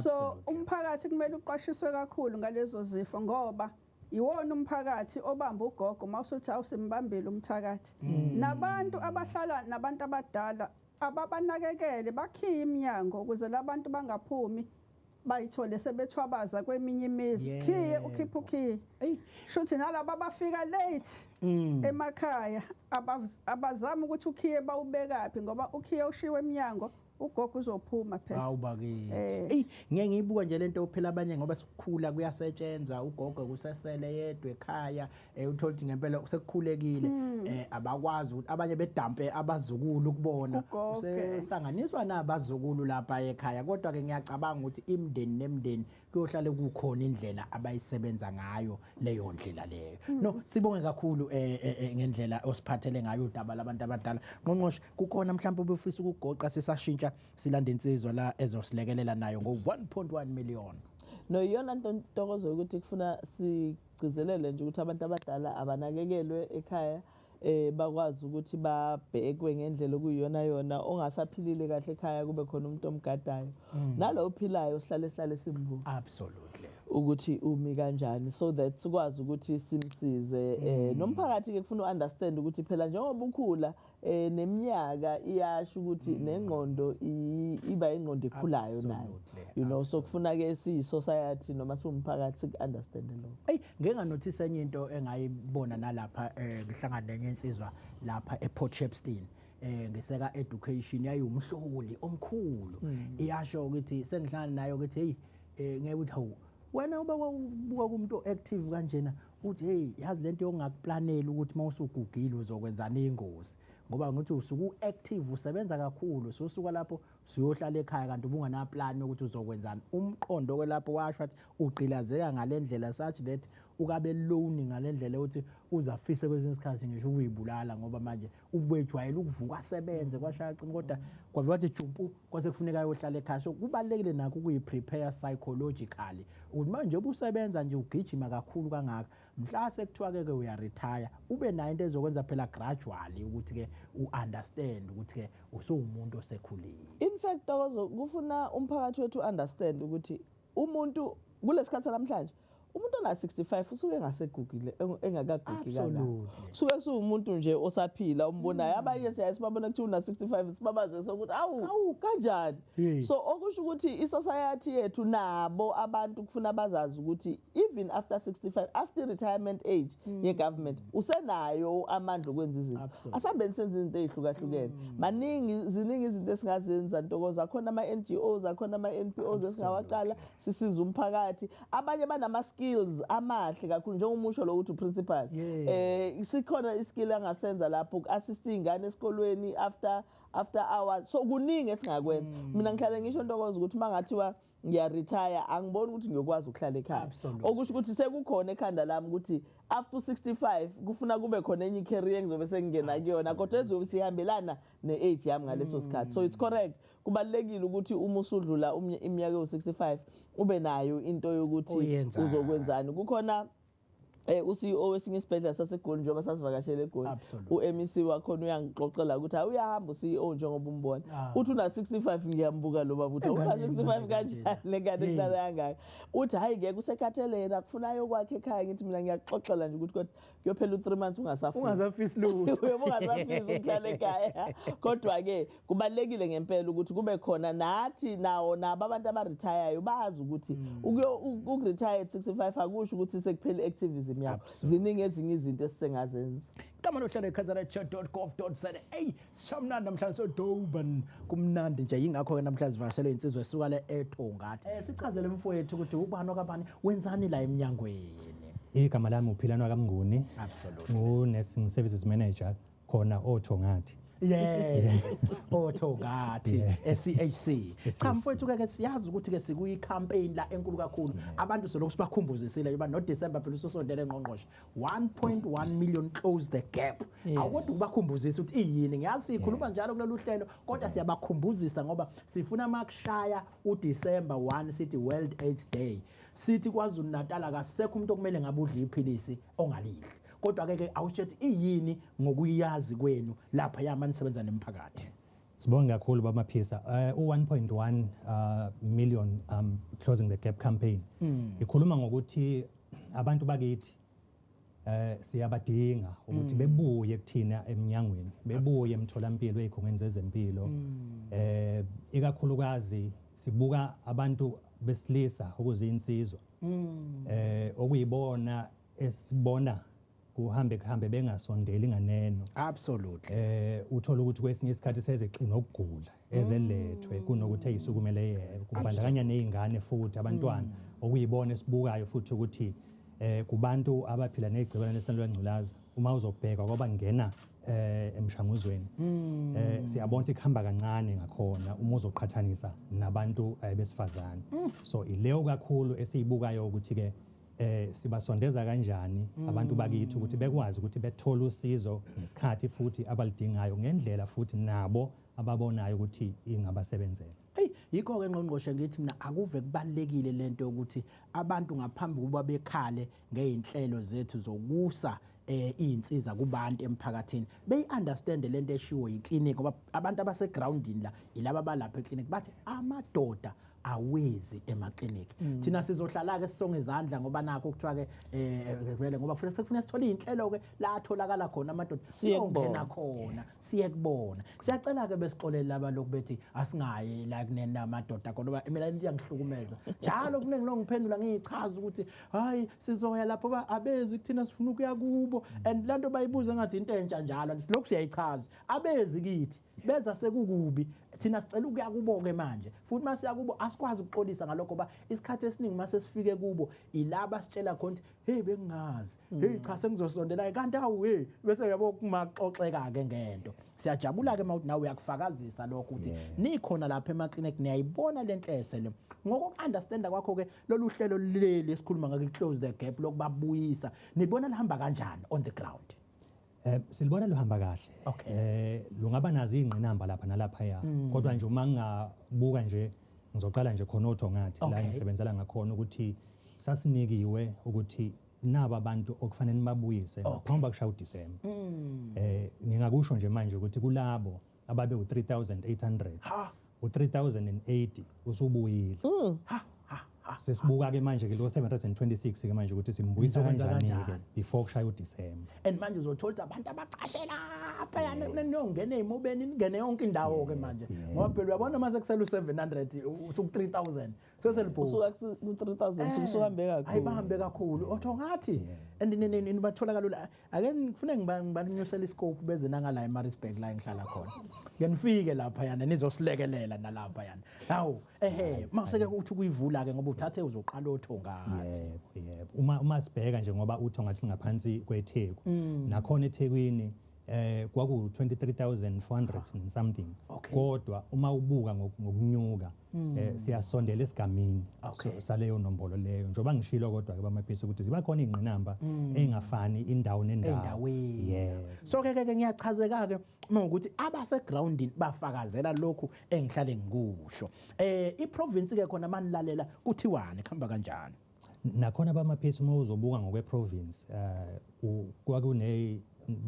so umphakathi kumele uqwashiswe kakhulu ngalezo zifo ngoba Iwona umphakathi obamba ugogo mawusuthi awusimbambile umthakathi. Mm. Nabantu abahlala nabantu abadala ababanakekele bakhiye iminyango ukuze labantu bangaphumi bayithole sebethwabaza kweminye imizi yeah. khiye ukhipha ukhiye shuthi nalabo abafika late mm. emakhaya abazama ukuthi ukhiye bawubekaphi ngoba ukhiye ushiwe emnyango ugogo uzophuma phela hawu bakithi eh. eyi ngeke ngiyibuka nje lento phela abanye ngoba sikukhula kuyasetshenzwa ugogo kusesele yedwa ekhaya eh, uthola ukuthi ngempela sekukhulekile hmm. eh, abakwazi ukuthi abanye bedampe abazukulu kubona usesanganiswa nabazukulu lapha ekhaya kodwa ke ngiyacabanga ukuthi imndeni nemndeni kuyohlale kukhona indlela abayisebenza ngayo leyo ndlela leyo mm. no sibonge kakhulu eh, eh, eh, ngendlela osiphathele ngayo udaba labantu abadala nqonqoshe kukhona mhlawumbe ubufisa ukugoqa sisashintsha silanda insizwa la ezosilekelela nayo ngo 1.1 million no iyona nto ntokozo ukuthi kufuna sigcizelele nje ukuthi abantu abadala abanakekelwe ekhaya mm. eh bakwazi ukuthi babhekwe ngendlela okuyiyona yona ongasaphilile kahle ekhaya kube khona umuntu omgadayo mm. nalo ophilayo uhlale sihlale simbuka absolutely ukuthi umi kanjani so that sikwazi ukuthi simsize eh mm. nomphakathi ke kufuna uunderstand ukuthi phela njengoba ukhula eh neminyaka iyasho ukuthi mm. nengqondo iba ingqondo ekhulayo nayo you know so kufuna ke si society noma siwumphakathi sikunderstand lokho ngeke nganothisa enye into engayibona nalapha eh ngihlangana nenye insizwa lapha ePort Shepstone eh ngiseka education yayiwumhloli omkhulu hmm. iyasho ukuthi sengihlangana nayo ukuthi hey eh, ngeke uthi hawu wena uba ubuka kumuntu active kanjena uthi hey yazi lento yongakuplaneli ukuthi mawusugugile uzokwenzana ingozi ngoba ngithi usuku active usebenza kakhulu sosuka lapho suyohlala ekhaya kanti ubungenaplani ukuthi uzokwenzani umqondo kwelapho washo athi ugqilazeka ngale ndlela such that ukabe lone ngale ndlela yokuthi uzafise kwesinye isikhathi ngisho ukuyibulala ngoba manje ubejwayele ukuvuka asebenze kwashaya cimi kodwa kwavele wathi jumpu kwase kufuneka ayohlala ekhaya so kubalulekile nakho ukuyi-prepare psychologically ukuthi manje ubusebenza nje ugijima kakhulu kangaka Mhla sekuthiwa ke ke uya retire ube nayo into ezokwenza phela gradually ukuthi ke u understand ukuthi ke usuwumuntu osekhulile. In fact Dokozo kufuna umphakathi wethu understand ukuthi umuntu kulesikhathi sanamhlanje umuntu ona 65 usuke engasegugile engakagugi kangaka suke kusumuntu nje osaphila umbonayo mm. abanye siyaye sibabona kuthi una 65 sibabaze sokuthi awu kanjani Hey. so okusho ukuthi i-society yethu nabo abantu kufuna bazazi ukuthi even after 65 after retirement age mm. ye-government usenayo amandla okwenza izinto asihambeni senza izinto ey'hlukahlukene mm. maningi ziningi izinto esingazenza ntokozo akhona ama-n g os akhona ama-n p os esingawaqala sisize umphakathi abanye banama-skills amahle kakhulu njengomusho lo ukuthi uprincipal um yeah. eh, sikhona i-skill angasenza lapho ku-assista iy'ngane esikolweni after after hours so kuningi esingakwenza mm. mina ngihlale ngisho ntokoza ukuthi uma ngathiwa ngiyaretire angiboni ukuthi ngiyokwazi ukuhlala ekhaya okusho ukuthi sekukhona ekhanda lami ukuthi after 65 kufuna kube khona enye icareer engizobe sengingena kuyona kodwa ezobe sihambelana ne-age yami ngaleso sikhathi so it's correct kubalulekile ukuthi uma usudlula iminyaka yo-65 ube nayo into yokuthi uzokwenzani kukhona eh uCEO wesinye isibhedlela saseGoli njengoba sasivakashela eGoli uMEC wakhona uyangixoxela ukuthi hayi uyahamba uCEO njengoba umbona ah. uthi una 65 ngiyambuka lo baba uthi una 65 kanjani lengane encane kangaka uthi hayi ngeke usekhathele yena akufuna ayokwakhe ekhaya ngithi mina ngiyaxoxela nje ukuthi kodwa kuyophela u3 months ungasafuni ungasafisi lutho uyebo ungasafisi ukuhlala ekhaya kodwa ke kubalulekile ngempela ukuthi kube khona nathi nawo nabo abantu abarethayayo bazi ukuthi mm. ukuretire at 65 akusho ukuthi sekuphele activism yakho ziningi ezinye izinto esisengazenza kamane uhlale ekhazaretshire.gov.za eyi shamnandi namhlanje sodoban kumnandi nje yingakho ke namhlanje sivakashele insizwa esuka le ethongathi eh sichazele mfowethu ukuthi ubani okabani wenzani la emnyangweni igama lami uphilano akamnguni absolutely ngu nursing services manager khona oThongathi yes otho ngathi Yeah. eCHC SCHC. cha mfowethu ke ke siyazi ukuthi ke sikuyi campaign la enkulu kakhulu abantu selokhu sibakhumbuzisile yoba no December phela usosondele ngqongqoshe 1.1 million close the gap Yes. awukodwa ukubakhumbuzisa ukuthi iyini ngiyazi sikhuluma njalo kulolu hlelo kodwa siyabakhumbuzisa ngoba sifuna makushaya uDecember 1 sithi World AIDS Day sithi kwaZulu Natal akasekho umuntu okumele ngabe udla iphilisi ongalidli kodwa ke ke awushethi iyini ngokuyazi kwenu lapha yama nisebenza nemphakathi Sibonge kakhulu bamaphisa eh, u 1.1 uh, million um closing the gap campaign hmm. ikhuluma ngokuthi abantu bakithi eh siyabadinga ukuthi hmm. bebuye kuthina eminyangweni bebuye emtholampilo ezikhungweni zezempilo hmm. eh ikakhulukazi sibuka abantu besilisa ukuzinsizwa eh okuyibona esibona kuhambe kuhambe bengasondeli nganeno absolutely eh uthola ukuthi kwesinye isikhathi sezeqina ukugula ezelethwe mm. kunokuthi eyisukumele yena kubandakanya nezingane futhi abantwana mm. okuyibona esibukayo futhi ukuthi eh kubantu abaphila negcikwane lesandulela ngculaza uma uzobheka kwaba ngena eh emshanguzweni mm. eh siyabona ukuthi kuhamba kancane ngakhona uma uzoqhathanisa nabantu eh, besifazane so ileyo kakhulu esiyibukayo ukuthi ke eh sibasondeza kanjani mm. abantu bakithi ukuthi bekwazi ukuthi bethole usizo ngesikhathi futhi abalidingayo ngendlela futhi nabo ababonayo ukuthi ingabasebenzela hey yikho ke ngqongqoshe ngithi mina akuve kubalekile lento ukuthi abantu ngaphambi kuba bekhale ngeinhlelo zethu zokusa eh izinsiza kubantu emphakathini beyi understand lento eshiwo yiclinic ngoba abantu abase groundini la ilaba balapha eclinic bathi amadoda awezi emaclinic mm. thina sizohlala ke sisonge izandla ngoba nakho kuthiwa ke eh vele ngoba kufanele sekufanele sithole izinhlelo ke la tholakala khona amadoda siyongena khona siye kubona siyacela ke besixolele laba lokubethi asingayi la kunena amadoda kodwa mina into yangihlukumeza njalo kuningi longiphendula ngichaza ukuthi hayi sizoya lapho ba abezi kuthina sifuna ukuya kubo and lanto bayibuza ngathi into entsha njalo silokhu siyayichaza abezi kithi beza sekukubi thina sicela ukuya kubo ke manje futhi mase yakubo asikwazi ukuxolisa ngalokho ba isikhathi esiningi mase sifike kubo ilaba sitshela khona hey bengazi mm. hey cha sengizosondela kanti awu hey bese yabo kumaxoxeka ke ngento siyajabula ke mawuthi nawe uyakufakazisa lokho ukuthi nikhona lapha ema clinic niyayibona lenhlese le ngoku understand kwakho ke lolu hlelo leli esikhuluma ngake close the gap lokubabuyisa nibona lihamba kanjani on the ground Eh silibona luhamba kahle. Okay. Eh lungaba nazo ingqinamba lapha nalapha ya. Mm. Kodwa nje uma ngingabuka nje ngizoqala nje khona otho ngathi okay. la ngisebenzela ngakhona ukuthi sasinikiwe ukuthi naba abantu okufanele nibabuyise okay. ngaphambi bakushaya uDisemba. Mm. Eh ngingakusho nje manje ukuthi kulabo ababe u-3800 Ha. u-3080 usubuyile Hmm. sesibuka-ke manje-ke lo 726-ke manje ukuthi simbuyisa Nisebenza kanjani-ke kanjani? before kushaya udisemba and manje uzothola ukuthi abantu abacashe lapha yani niyongena ey'mobeni ningene yonke indawo-ke manje ngoba phela uyabona uma sekusele u-700 usuku-3000 kusuka ku-3000 eh, sukusuhambe kakhulu hayi bahambe kakhulu otho ngathi and nibathola kalula ake ngifune ngibanyusela iscope beze nangala eMaritzburg la engihlala khona ke nifike lapha yana nizosilekelela nalapha yana hawu ehe mawuseke ukuthi kuyivula ke ngoba uthathe uzoqala otho ngathi yebo yebo uma uma sibheka nje ngoba utho ngathi ngaphansi kweTheku mm. nakhona eThekwini eh kwaku 23400 and something Okay. kodwa uma ubuka ngoku- ngokunyuka Hmm. eh siyasondela esigamini Okay. so- saleyo nombolo leyo njengoba ngishilo kodwa ke bamaphisi ukuthi ziba khona ingqinamba engafani indawo nendawo Hmm. endaweni yeah so ke ke ke ngiyachazeka ke uma ukuthi abase groundini bafakazela lokhu engihlale ngikusho eh i province ke khona manilalela kuthiwani khamba kanjani nakhona abamaphisi uma uzobuka ngokweprovince um kwakune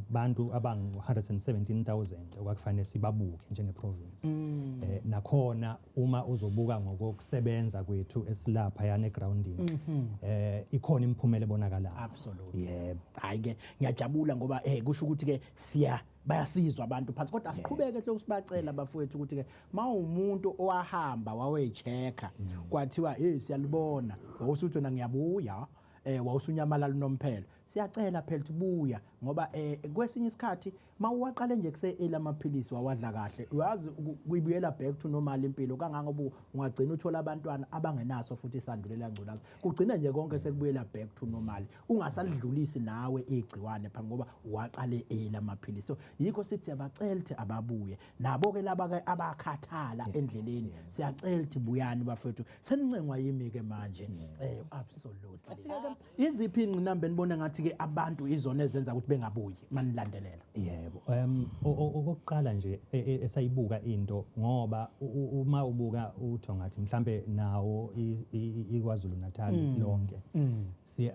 bantu abangu-117,000 okwakufanele sibabuke njengeprovince mm. eh, nakhona uma uzobuka ngokokusebenza kwethu esilapha yana egroundini mm -hmm. eh, ikhona imiphumela ebonakalayo absolutely yebo hayi ke ngiyajabula ngoba eh kusho ukuthi ke siya bayasizwa abantu phansi kodwa asiqhubeke hle usibacela bafowethu ukuthi ke mawumuntu owahamba wawechecka mm. kwathiwa hey siyalibona wawusuthi wena ngiyabuya eh wawusunyamalala unomphelo siyacela phela ubuya ngoba eh kwesinye isikhathi mawuwaqale nje kuse elamaphilisi wawadla kahle uyazi kuyibuyela back to normal impilo kangangoba ungagcina uthola abantwana abangenaso futhi isandulela ngculaza kugcina nje konke sekubuyela back to normal ungasalidlulisi nawe igciwane phambi ngoba waqale elamaphilisi so yikho sithi siyabacela ukuthi ababuye nabo ke laba ke abakhathala endleleni siyacela ukuthi buyani bafethu senincengwa yimi ke manje eh absolutely iziphi ingqinamba enibona ngathi ke abantu izona ezenza ukuthi bengabuyi manilandelela yebo um okokuqala nje e, e, esayibuka into ngoba uma ubuka utho ngathi mhlambe nawo iKwaZulu Natal mm. lonke mm.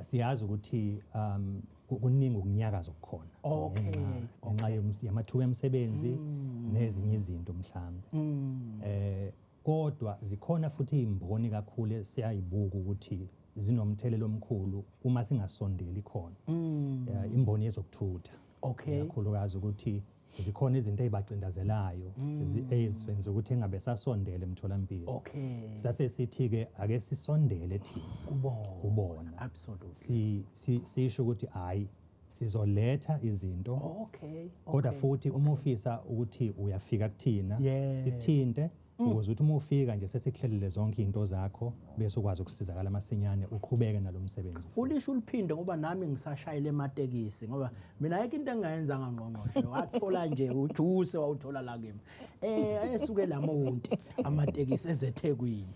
siyazi ukuthi um kuningi ukunyakaza okukhona okay. ngenxa yamathuba emisebenzi mm. nezinye izinto mhlawumbe mm. eh kodwa zikhona futhi izimboni kakhulu siyayibuka ukuthi zinomthelelo omkhulu uma singasondeli khona mm. imboni yezokuthutha okay kakhulukazi ukuthi zikhona izinto ezibacindazelayo mm. ezenza ukuthi engabe sasondele emtholampilo okay sase sithi ke ake sisondele thina kubona kubona absolutely si si sisho ukuthi hayi sizoletha izinto okay kodwa futhi uma ufisa ukuthi uyafika kuthina sithinte Mm. ukuze uthi uma ufika nje sesikuhlelele zonke into zakho bese ukwazi ukusizakala masinyane uqhubeke nalomsebenzi ulisho uliphinde ngoba nami ngisashayile ematekisi ngoba mina ayikho into engayenza ngangqongqoshe wathola nje ujuse wawuthola la kimi eh esuke lamonti amatekisi ezethekwini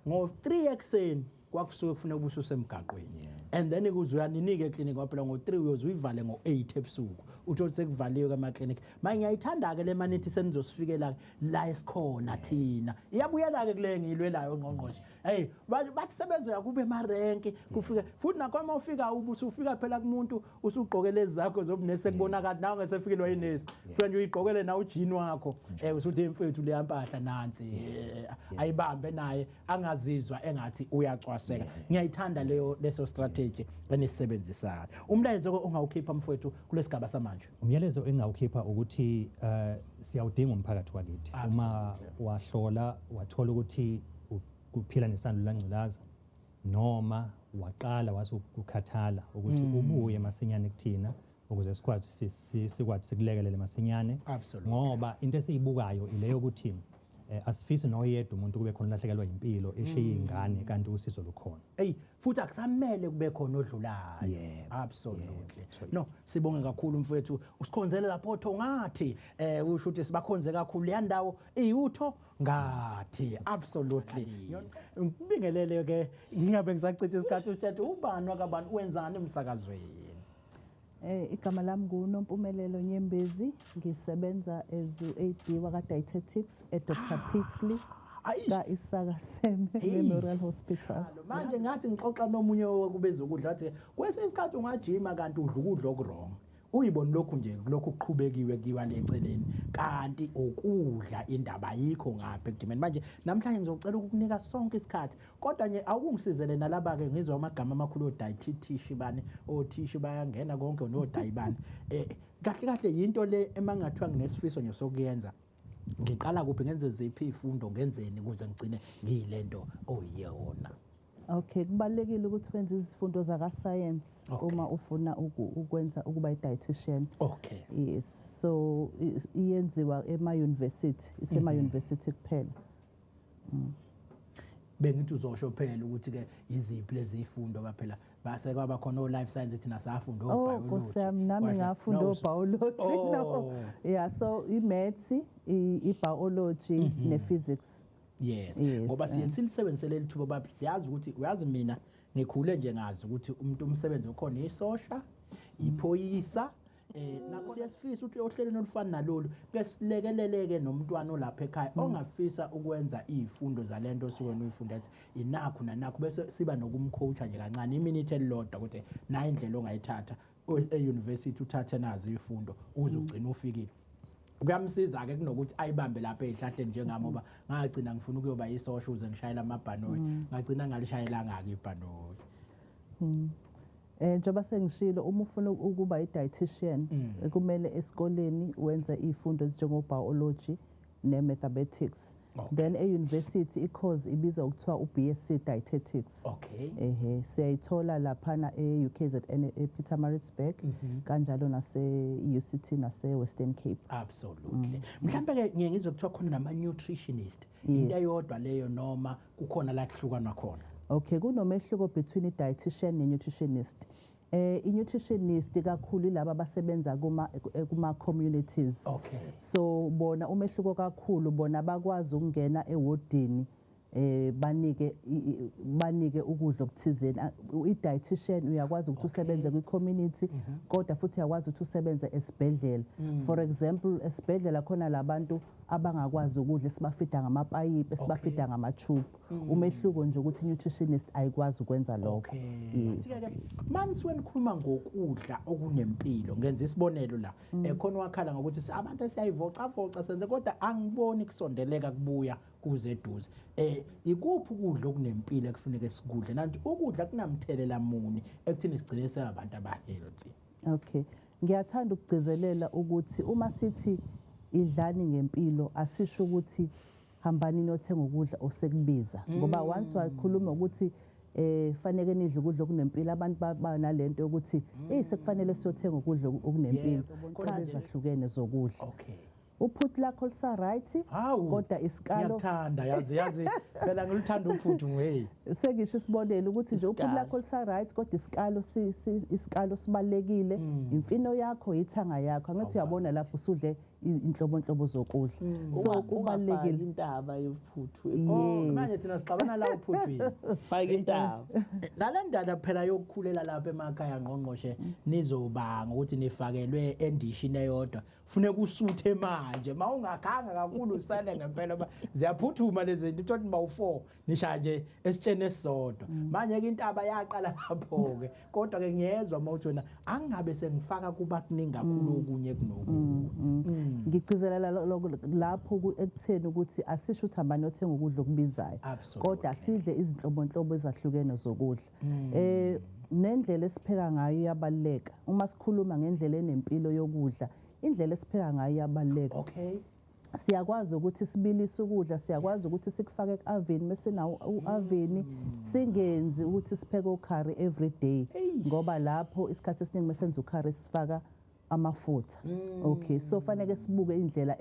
ngo 3 ekseni kwakusuke kufuneka ubususe emgaqweni yeah. and then kuze uyaninike eclinic ngoba phela ngo-3 uyoze uyivale ngo-8 ebusuku uthole ukuthi sekuvaliwe kamaclinic manje ngiyayithanda-ke le manithi senizosifikela la esikhona thina iyabuyela-ke kule ngiyilwelayo ngqongqoshe heyi bathi sebenzeka kube emarenki kufike futhi nakhona uma ufika ubuthi ufika phela kumuntu usugqoke lezi zakho zobunesi ekubonakala nawe ngesefikelwa yinesi fika nje uyigqokele nawe ujini wakho um usuthi mfethu leyampahla nansi eh, ayibambe naye angazizwa engathi uyacwaseka ngiyayithanda leyo leso strategy enisebenzisayo umlayezo ongawukhipha mfowethu kulesigaba samanje umyalezo engawukhipha ukuthi uh, siyawudinga umphakathi wakithi uma wahlola wathola ukuthi kuphila nesandula ngculaza noma waqala wasukukhathala ukuthi mm. ubuye masinyane kuthina ukuze sikwazi sikwazi sikulekelele masinyane ngoba into esiyibukayo ile yokuthi eh, asifisi noyedwa umuntu kube khona ulahlekelwa impilo eshiye mm. ingane kanti usizo lukhona hey futhi akusamele kube khona odlulayo yep. absolutely yep. no sibonge kakhulu mfowethu usikhonzele lapho tho ngathi eh usho ukuthi sibakhonze kakhulu le ndawo iyutho ngathi absolutely ngibingelele ke ngingabe ngisachitha isikhathi usitshathe ubani wakabani wenzani emsakazweni Eh igama lami nguNompumelelo Nyembezi ngisebenza as uAD waka Dietetics e Dr Pixley ka Isaka Seme Memorial Hospital. Manje ngathi ngixoxa nomunye wakubezokudla athi kwesinye isikhathi ungajima kanti udla ukudla okuwrong. Uyibona lokhu nje lokhu kuqhubekiwe kiwa leceleni kanti ukudla indaba ayikho ngapha ekudimeni manje namhlanje ngizocela ukukunika sonke isikhathi Kodwa nje awukungisizele nalaba ke ngizwa amagama amakhulu odayi thithishi bani othishi bayangena konke nodayi bani eh kahle kahle yinto le emangathiwa nginesifiso nje sokuyenza ngiqala kuphi ngenze ziphi ifundo ngenzeni ukuze ngigcine ngiyilento oyiyona Okay kubalekile ukuthi wenze izifundo zaka science okay. uma ufuna ukwenza ukuba i dietitian. Okay. Yes. So iyenziwa ema university, isema mm -hmm. university kuphela. mm. bengithi uzosho phela ukuthi ke iziphi lezi ifundo baphela base kwaba khona o life science thina safunda o biology oh kusem nami ngafunda o biology oh. no yeah so i maths i biology mm -hmm. ne physics yes ngoba siye silisebenzisele lithuba bathi siyazi ukuthi uyazi mina ngikhule nje ngazi ukuthi umuntu umsebenzi okhona isosha iphoyisa Eh nakho siyasifisa ukuthi ohlelweni olufana nalolu ke silekeleleke nomntwana olapha ekhaya mm. ongafisa ukwenza izifundo zalento osuke uyifunda ethi inakho nanakho bese siba nokumcoacha nje kancane iminute elilodwa ukuthi nayi indlela ongayithatha e-university uthathe nazo izifundo uze mm. ugcine ufikile kuyamsiza ke kunokuthi ayibambe lapha ezihlahleni njengami ngoba ngagcina ngifuna ukuyoba isosha uze ngishayela amabhanoyi mm. ngagcina ngalishayelanga ke ibhanoyi Eh njengoba sengishilo uma ufuna ukuba i-dietitian mm. kumele esikoleni wenze izifundo ezinjengo-biology ne-mathematics okay. then e-university i-course ibizwa ukuthiwa u-bsc dietetics okay. ehe siyayithola laphana e-ukzn e-peter maritzburg mm -hmm. kanjalo nase-uct nase-western cape absolutely mm. mhlawumbe-ke ngiye ngizwe kuthiwa khona nama-nutritionist yes. into eyodwa leyo noma kukhona la kuhlukanwa khona okay kunomehluko between i-dietitian ne-nutritionist eh i-nutritionist kakhulu laba abasebenza kuma eh, kuma communities okay so bona umehluko kakhulu bona bakwazi ukungena ewodini eh banike banike ukudla okuthizeni ah, i-dietitian uyakwazi ukuthi usebenze kwi-community mhm. kodwa futhi uyakwazi ukuthi usebenze esibhedlela mm. for example esibhedlela khona labantu abangakwazi ukudla esibafida ngamapayipi esibafida ngamathube mm. umehluko nje ukuthi nutritionist ayikwazi ukwenza lokho mami siwe nikhuluma ngokudla okunempilo ngenza isibonelo la mm. ekhona wakhala ngokuthi abantu esiyayivocavoca senze kodwa angiboni kusondeleka kubuya kuze eduze eh ikuphi ukudla okunempilo ekufuneka sikudle nanti ukudla kunamthelela muni ekuthini sigcine seabantu abahealthy Okay. Ngiyathanda ukugcizelela ukuthi uma sithi idlani ngempilo asisho ukuthi hambani niyothenga ukudla osekubiza ngoba mm. once wakhuluma ukuthi eh faneke nidle ukudla okunempilo abantu banalento yokuthi hey mm. sekufanele siyothenga ukudla okunempilo cha ezahlukene zokudla okay uphuthu lakho lisaright Hawu, kodwa isikalo ngiyakuthanda yazi yazi phela ngilithanda uphuthu ngweyi sengisho isibonelo ukuthi nje uphuthu Isikalo. lakho lisaright kodwa isikalo si- si- isikalo sibalekile Mm. imfino yakho yithanga yakho angithi uyabona lapho usudle i- inhlobonhlobo zokudla so Mm. Unga- ungafaki kubalekile intaba yophuthu Oh, Yes. manje thina sixabana la uphuthu yini faka intaba nale ndaba phela yokukhulela lapha emakhaya ngqongqoshe nizobanga ukuthi nifakelwe endishini eyodwa funeka usuthe manje ma ungakhanga kakhulu usale ngempela uba ziyaphuthuma lezi zinto uthole uba u-four nishaya nje esitsheni esisodwa mm. manje-ke intaba yaqala lapho-ke kodwa-ke ngiyezwa uma uthi wena angingabe sengifaka kuba kuningi kakhulu mm. okunye kunoku mm, ngigcizelela lapho ekutheni ukuthi asisho ukuthi ambani othenga ukudla okubizayo kodwa sidle izinhlobonhlobo ezahlukene zokudla mm. eh nendlela esipheka ngayo iyabaleka uma sikhuluma ngendlela enempilo yokudla indlela esipheka ngayo iyabaleka okay siyakwazi ukuthi sibilise ukudla siyakwazi ukuthi sikufake ku-aveni bese nawo u-aveni mm. singenzi ukuthi sipheke ukhari every day ngoba lapho isikhathi esiningi mesenza ukhari sifaka amafutha mm. okay so fanele sibuke indlela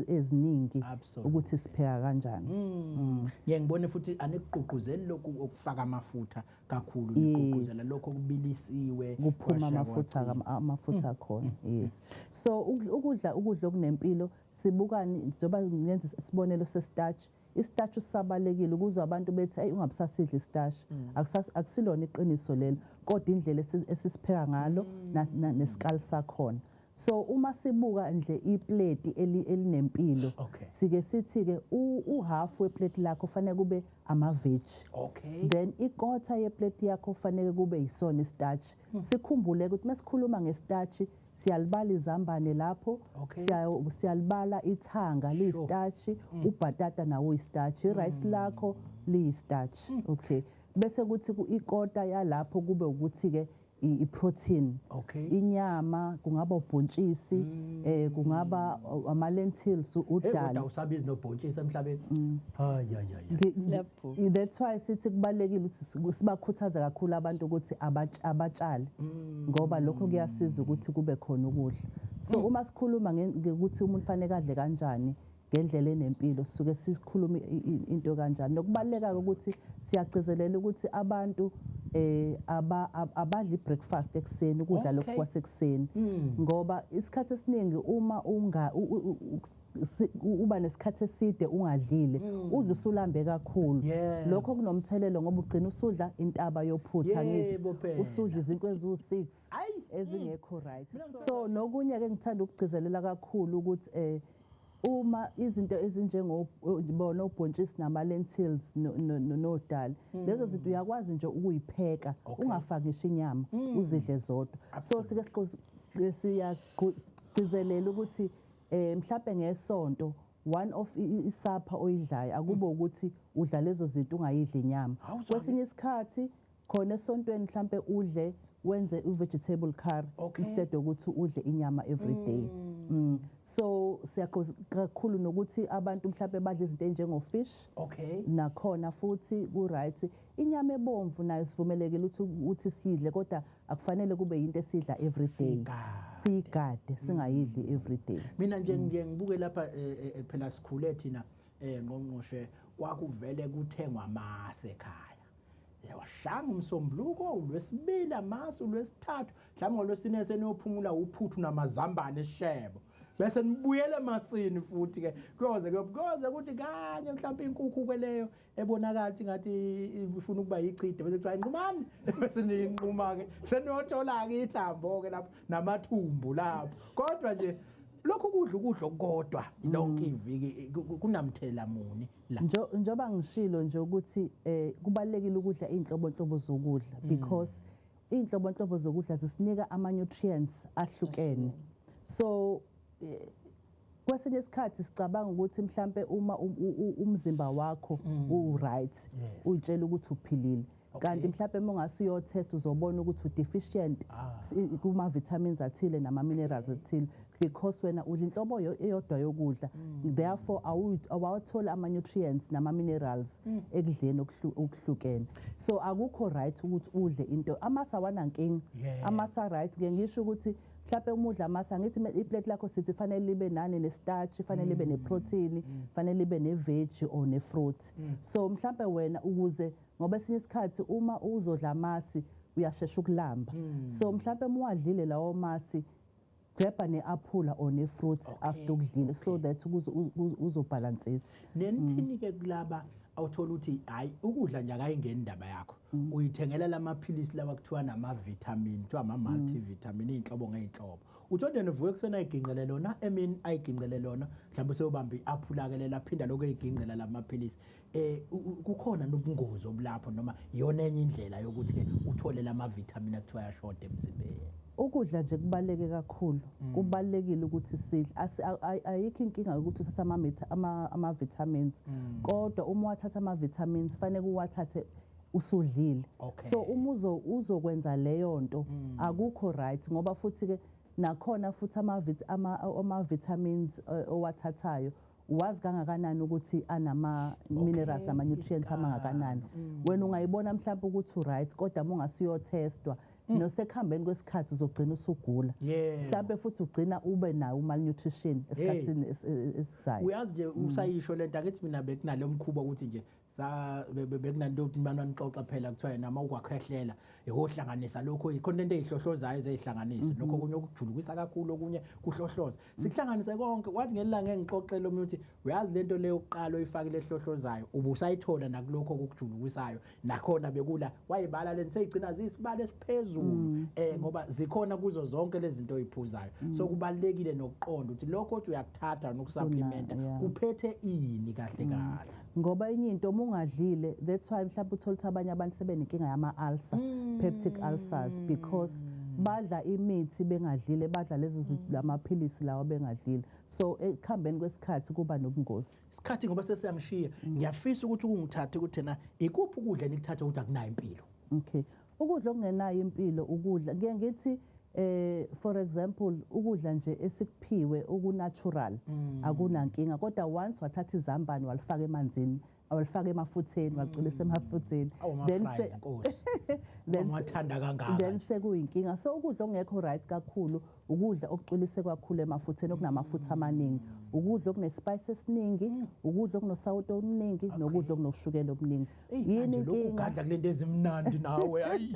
eziningi ukuthi sipheka kanjani mm. mm. yeah ngibone futhi anikuququzeli lokhu okufaka amafutha kakhulu niququzela lokho kubilisiwe kuphuma amafutha amafutha khona yes so ukudla ukudla okunempilo sibukani njengoba ngenza isibonelo se starch Isitashi sisabalekile ukuzwa abantu bethi ayi ungabusasidli isitashi mm. akusilona iqiniso leli kodwa indlela esisipheka ngalo mm. nesikali sakhona so uma sibuka nje iplate elinempilo sike sithi ke uhalf weplate lakho fanele kube amaveg okay then ikota yeplate yakho fanele kube yisona istarch mm. sikhumbule ukuthi mesikhuluma ngestarch Siyalibala izambane lapho, okay. siya, siyalibala ithanga liyistashi, sure. mm. ubhatata nawo uyistashi, mm. rice lakho liyistashi. Mm. Okay. Bese kuthi ikota yalapho kube ukuthi ke iprotein okay. inyama kungaba ubhontshisi mm. eh kungaba ama lentils udala hey, usabizi nobhontshisi emhlabeni mm. hayi hayi hayi kakhulu that's why sithi kubalekile ukuthi sibakhuthaze kakhulu abantu ukuthi abatshale mm. ngoba lokho kuyasiza ukuthi kube khona ukudla so mm. uma sikhuluma ngokuthi umuntu fanele kadle kanjani ngendlela enempilo sisuke sikhuluma into kanjani nokubaleka ukuthi siyagcizelela ukuthi abantu eh aba abadli breakfast ekseni ukudla lokho kwasekuseni mm. ngoba isikhathi esiningi uma unga uba nesikhathi eside ungadlile mm. udla usulambe kakhulu lokho kunomthelelo ngoba ugcina usudla intaba yophutha ngithi usudla izinto eziwu-6 ezingekho mm. right so nokunye ke ngithanda ukugcizelela kakhulu ukuthi eh uma izinto ezinjengobona ubhontshisi nama-lentils nodali mm. lezo zinto uyakwazi nje ukuyipheka ungafaki ngisho inyama uzidle zodwa so sike siyagcizelela ukuthi Eh mhlambe ngesonto one of isapha oyidlayo akube mm. ukuthi udla lezo zinto ungayidli inyama kwesinye isikhathi khona esontweni mhlambe udle wenze uvegetable curry okay. instead ukuthi udle inyama every mm. day mm. Mm. so siyagqoza kakhulu nokuthi abantu mhlawumbe badla izinto enjengo fish okay nakhona futhi ku right Inyama ebomvu nayo sivumelekile ukuthi ukuthi sidle kodwa akufanele kube yinto esidla every day. Sigade. Sigade singayidli every day. Mina nje mm. ngiye ngibuke lapha eh, eh, eh, phela sikhule thina eh ngqongqoshe kwakuvele kuthengwa amase ekhaya. Yawashanga umsombuluko ulwesibili amasi ulwesithathu mhlawumbe ngolwesine senophumula uphuthu namazambane eshebo. bese nibuyele emasini futhi ke kuyoze kuyoze ukuthi kanye mhlawumbe inkukhu kweleyo ebonakala ukuthi ngathi ifuna ukuba yichide bese kuthiwa inqumani bese ninquma-ke seniyothola-ke ithambo-ke lapho namathumbu lapho kodwa nje lokhu kudla ukudla okukodwa lonke mm. iviki kunamthela muni la njengoba ngishilo nje ukuthi eh kubalekile ukudla inhlobo nhlobo zokudla mm. because inhlobo nhlobo zokudla zisinika ama nutrients ahlukene so kwesinye isikhathi sicabanga ukuthi mhlambe uma umzimba wakho mm. u right uyitshela ukuthi uphilile kanti mhlawumbe uma ungase uyotest uzobona ukuthi udeficient ah. kuma-vitamins athile nama-minerals athile because wena udla inhlobo eyodwa yokudla mm. therefore awawatholi ama-nutrients nama-minerals mm. ekudleni okuhlukene so akukho right ukuthi udle into amasa awanankinga amasa right ngengisho ukuthi mhlawumbe uma udla amasi angithi iplate lakho sithi fanele libe nani nestarch fanele libe mm. neprotein mm. fanele libe neveji or nefruit mm. so mhlawumbe wena ukuze ngoba esinye isikhathi uma uzodla amasi uyashesha ukulamba so mhlawumbe uma wadlile lawo masi grabha ne-aphula or ne-fruit after ukudlile so that uzobhalansisa nenithini ke kulaba awuthola ukuthi hayi ukudla nje akayingeni indaba yakho mm. uyithengela lamaphilisi lawa kuthiwa nama vitamin kuthiwa ama multi mm. vitamin izinhlobo ngeinhlobo uthonde nivuke kusena iginqele lona emini ayiginqele lona mhlawumbe seyobamba iaphula ke lela phinda lokho eyiginqela lamaphilisi eh kukhona nobungozi obulapho noma iyona enye indlela yokuthi ke uthole lama vitamin akuthiwa yashoda emzimbeni Ukudla nje kubaluleke kakhulu. Mm. Kubalulekile ukuthi sidle. Ayikho inkinga yokuthi uthatha ama ama vitamins. Mm. Kodwa uma wathatha ama vitamins fanele kuwathathe usudlile. Okay. So uma uzo uzokwenza leyo nto mm. akukho right ngoba futhi ke nakhona futhi ama ama vitamins eh, owathathayo wazi kangakanani ukuthi anama minerals nama nutrients amangakanani mm. wena ungayibona mhlawumbe ukuthi uright kodwa mungasiyo testwa mm. nosekuhambeni kwesikhathi uzogcina usugula mhlawumbe futhi ugcina ube nayo umalnutrition esikhathini esizayo uyazi nje mm. usayisho lento akithi mina bekunalo mkhuba ukuthi nje sa bekunanto ukuthi imani wanixoxa phela kuthiwa yena uma ukwakhwehlela yohlanganisa lokho ikhona into ezihlohlozayo ezihlanganisa lokho mhm. kunye okujulukisa kakhulu okunye kuhlohloza sikuhlanganise konke wathi ngelanga engixoxela omunye ukuthi uyazi lento leyo uqala oyifakile ehlohlozayo ubusayithola nakulokho okujulukisayo nakhona bekula wayibala leni seyigcina zisibale esiphezulu mhm. eh ngoba zikhona kuzo zonke lezi zinto oyiphuzayo mhm. so kubalekile nokuqonda ukuthi lokho othi uyakuthatha nokusupplementa kuphethe ini kahle kahle ngoba enye into uma ungadlile that's why mhlawumbe uthole ukuthi abanye abantu sebenenkinga yama-ulcer mm. peptic ulcers because badla imithi bengadlile badla lezo mm. lamaphilisi lawa bengadlile so ekuhambeni kwesikhathi kuba nobungozi isikhathi ngoba sesiyangishiya mm. ngiyafisa ukuthi kungithathe ukuthi na ikuphi ukudla nikuthatha ukuthi akunayo impilo okay Ukudla okungenayo impilo ukudla ngiye ngithi eh for example ukudla nje esikuphiwe okunatural mm. akunankinga kodwa once wathatha izambane walifaka emanzini awalifaka emafutheni wagculisa mm. emafutheni then se then wathanda kangaka then sekuyinkinga so ukudla ongekho right kakhulu ukudla okucwilise kwakhulu emafutheni okunamafutha amaningi ukudla okunesipayisi esiningi mm. ukudla okunosawoti omningi nokudla okunoshukela omningi yini inkinga kulento ezimnandi nawe ayi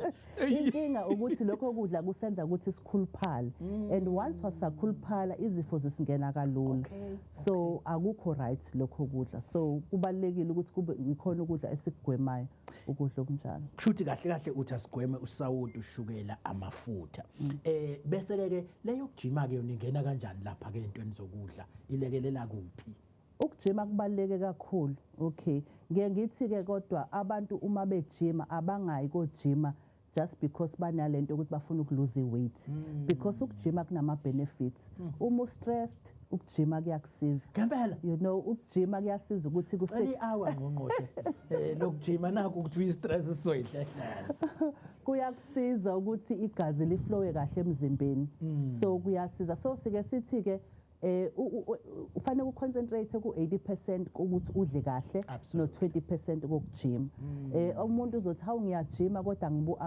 inkinga ukuthi lokho kudla kusenza ukuthi sikhuluphale mm. and once wasakhuluphala izifo zisingena kalula so akukho right lokho kudla so kubalekile ukuthi kube ikhona ukudla esikugwemayo ukudla okunjani kushuthi kahle kahle uthi asigweme usawoti ushukela amafutha mm. eh bese ke ke leyo kujima ke yona ingena kanjani lapha ke entweni zokudla ilekelela kuphi ukujima kubaluleke kakhulu okay ngiye ngithi ke kodwa abantu uma bejima abangayi kojima just because banalento ukuthi bafuna ukuluza iweight mm. because ukujima kunama benefits mm. uma ustressed ukujima kuyakusiza ngempela you know ukujima kuyasiza ukuthi kuse cela ihour ngqongqoshe eh lokujima naku ukuthi istress isoyihle kuyakusiza ukuthi igazi liflowe kahle emzimbeni mm. so kuyasiza so sike sithi ke eh ufanele uconcentrate ku 80% ukuthi udle kahle no 20% kokujima hmm. eh umuntu uzothi hawu ngiyajima kodwa ngibu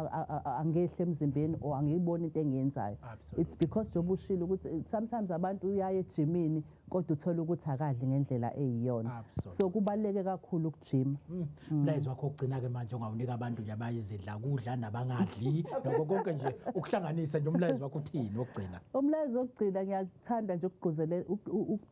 angehle emzimbeni or angiyiboni into engiyenzayo it's because njengoba ushilo ukuthi sometimes abantu uyaye ejimini kodwa uthola ukuthi akadli ngendlela eyiyona so kubaleke kakhulu Jim. Hmm. Mlayezo wakho ogcina ke manje ongawunika abantu nje abayizidla kudla nabangadli nokho konke nje ukuhlanganisa nje umlayezo wakho uthini ogcina? Umlayezo ogcina ngiyakuthanda nje ukugcizelela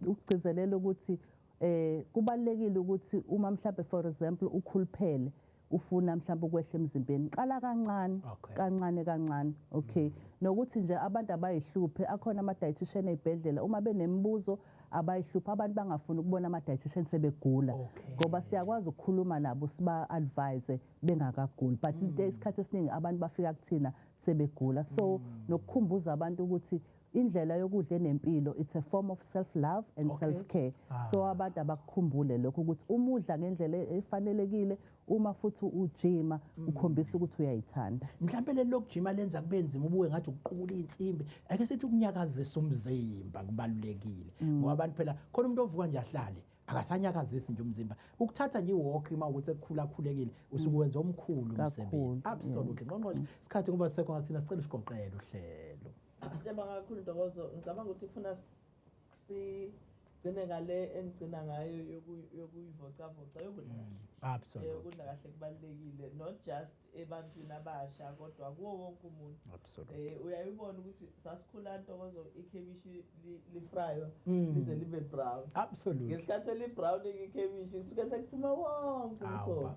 ukugcizelela ukuthi eh kubalekile ukuthi uma mhlambe for example ukhuluphele ufuna mhlawumbe ukwehla emzimbeni qala kancane okay. kancane kancane okay mm. nokuthi nje abantu abayihluphe akhona ama dietitian ezibhedlela uma benemibuzo abayihlupha abantu bangafuni ukubona ama-dietitian sebegula ngoba siyakwazi ukukhuluma nabo siba-advise bengakaguli but mm. isikhathi esiningi abantu bafika kuthina sebegula so mm. nokukhumbuza abantu ukuthi indlela yokudla enempilo it's a form of self love and okay. self care ah. so abantu abakukhumbule lokho ukuthi uma udla ngendlela efanelekile uma futhi ujima mm. ukhombisa ukuthi uyayithanda mhlawumbe leli lokujima lenza kube nzima ubuke ngathi ukuqukula insimbi ake sithi ukunyakazisa umzimba kubalulekile mm. ngoba abantu phela khona umuntu ovuka nje ahlale akasanyakazisi nje umzimba ukuthatha nje iwalk uma ukuthi ekukhula khulekile usuke mm. wenza omkhulu umsebenzi absolutely ngqongqoshe isikhathi kuba sekho ngathina sicela usigoqele uhlelo Siyabonga kakhulu Ntokozo. Ngicabanga ukuthi kufuna sigcine ngale engigcina ngayo yokuyivocavoca yokudla mm, kahle eh, ukudla kahle kubalulekile not just ebantwini abasha kodwa kuwo wonke umuntu um uyayibona ukuthi sasikhula ntokozo ikhebishi lifrayo mm. lize libe brown ngesikhathi elibrown ikhebishi kusuke sekuphuma wonke umsoco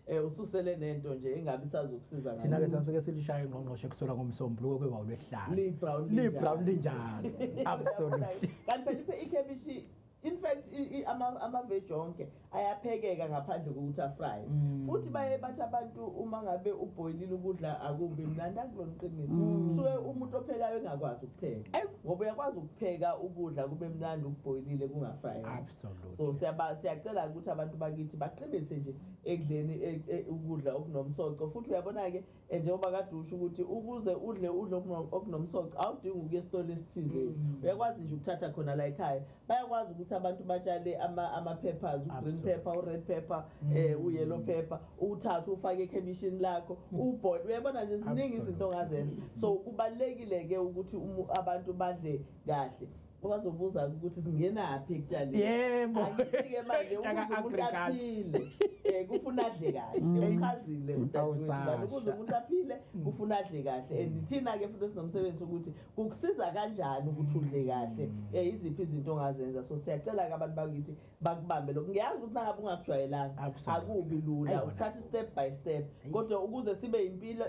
Eh ususele nento nje engabe isazokusiza ngayo. Thina ke sasike silishaye ingqongqoshe kusola ngomsombuluko kwewa ulwesihlanu. Li brown li brown linjalo. Absolutely. Kanti phela iphe ikhebishi in fact ama ama veg onke ayaphekeka ngaphandle kokuthi afry mm. futhi baye bathi abantu uma ngabe uboilile ukudla akumbi mnandi akulona iqiniso mm. so umuntu ophekayo engakwazi ukupheka ngoba uyakwazi ukupheka ukudla kube mnandi ukuboilile kungafry absolutely so siyaba siyacela ukuthi abantu bakithi baqinise nje ekudleni e, e, ukudla okunomsoco futhi uyabona-ke eh, njengoba kade usho ukuthi ukuze udle udle okunomsoco awudingi ukuya esitolo esithizeni mm. uyakwazi nje ukuthatha khona la ekhaya bayakwazi ukuthi abantu batshale ama-peppers u-green pepper u-red pepper um mm. eh, u-yellow pepper uwuthathe ufake ekhemishini lakho mm. ubhode uyabona nje ziningi izinto ongazenza so kubalulekile-ke ukuthi abantu badle kahle bazobuza ukuthi singenaphi ekutshaleni yebo akike manje ukuze umuntu aphile eh kufuna adle kahle mm. echazile udadewethu ukuze umuntu aphile mm. kufuna adle kahle and mm. thina ke futhi sinomsebenzi ukuthi kukusiza kanjani ukuthi udle kahle eh iziphi izinto ongazenza so siyacela ke abantu bakithi bakubambe lokho ngiyazi ukuthi nangabe ungakujwayelanga akubi lula uthatha step by step kodwa ukuze sibe impilo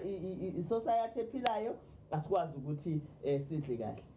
i society ephilayo asikwazi ukuthi eh, sidle kahle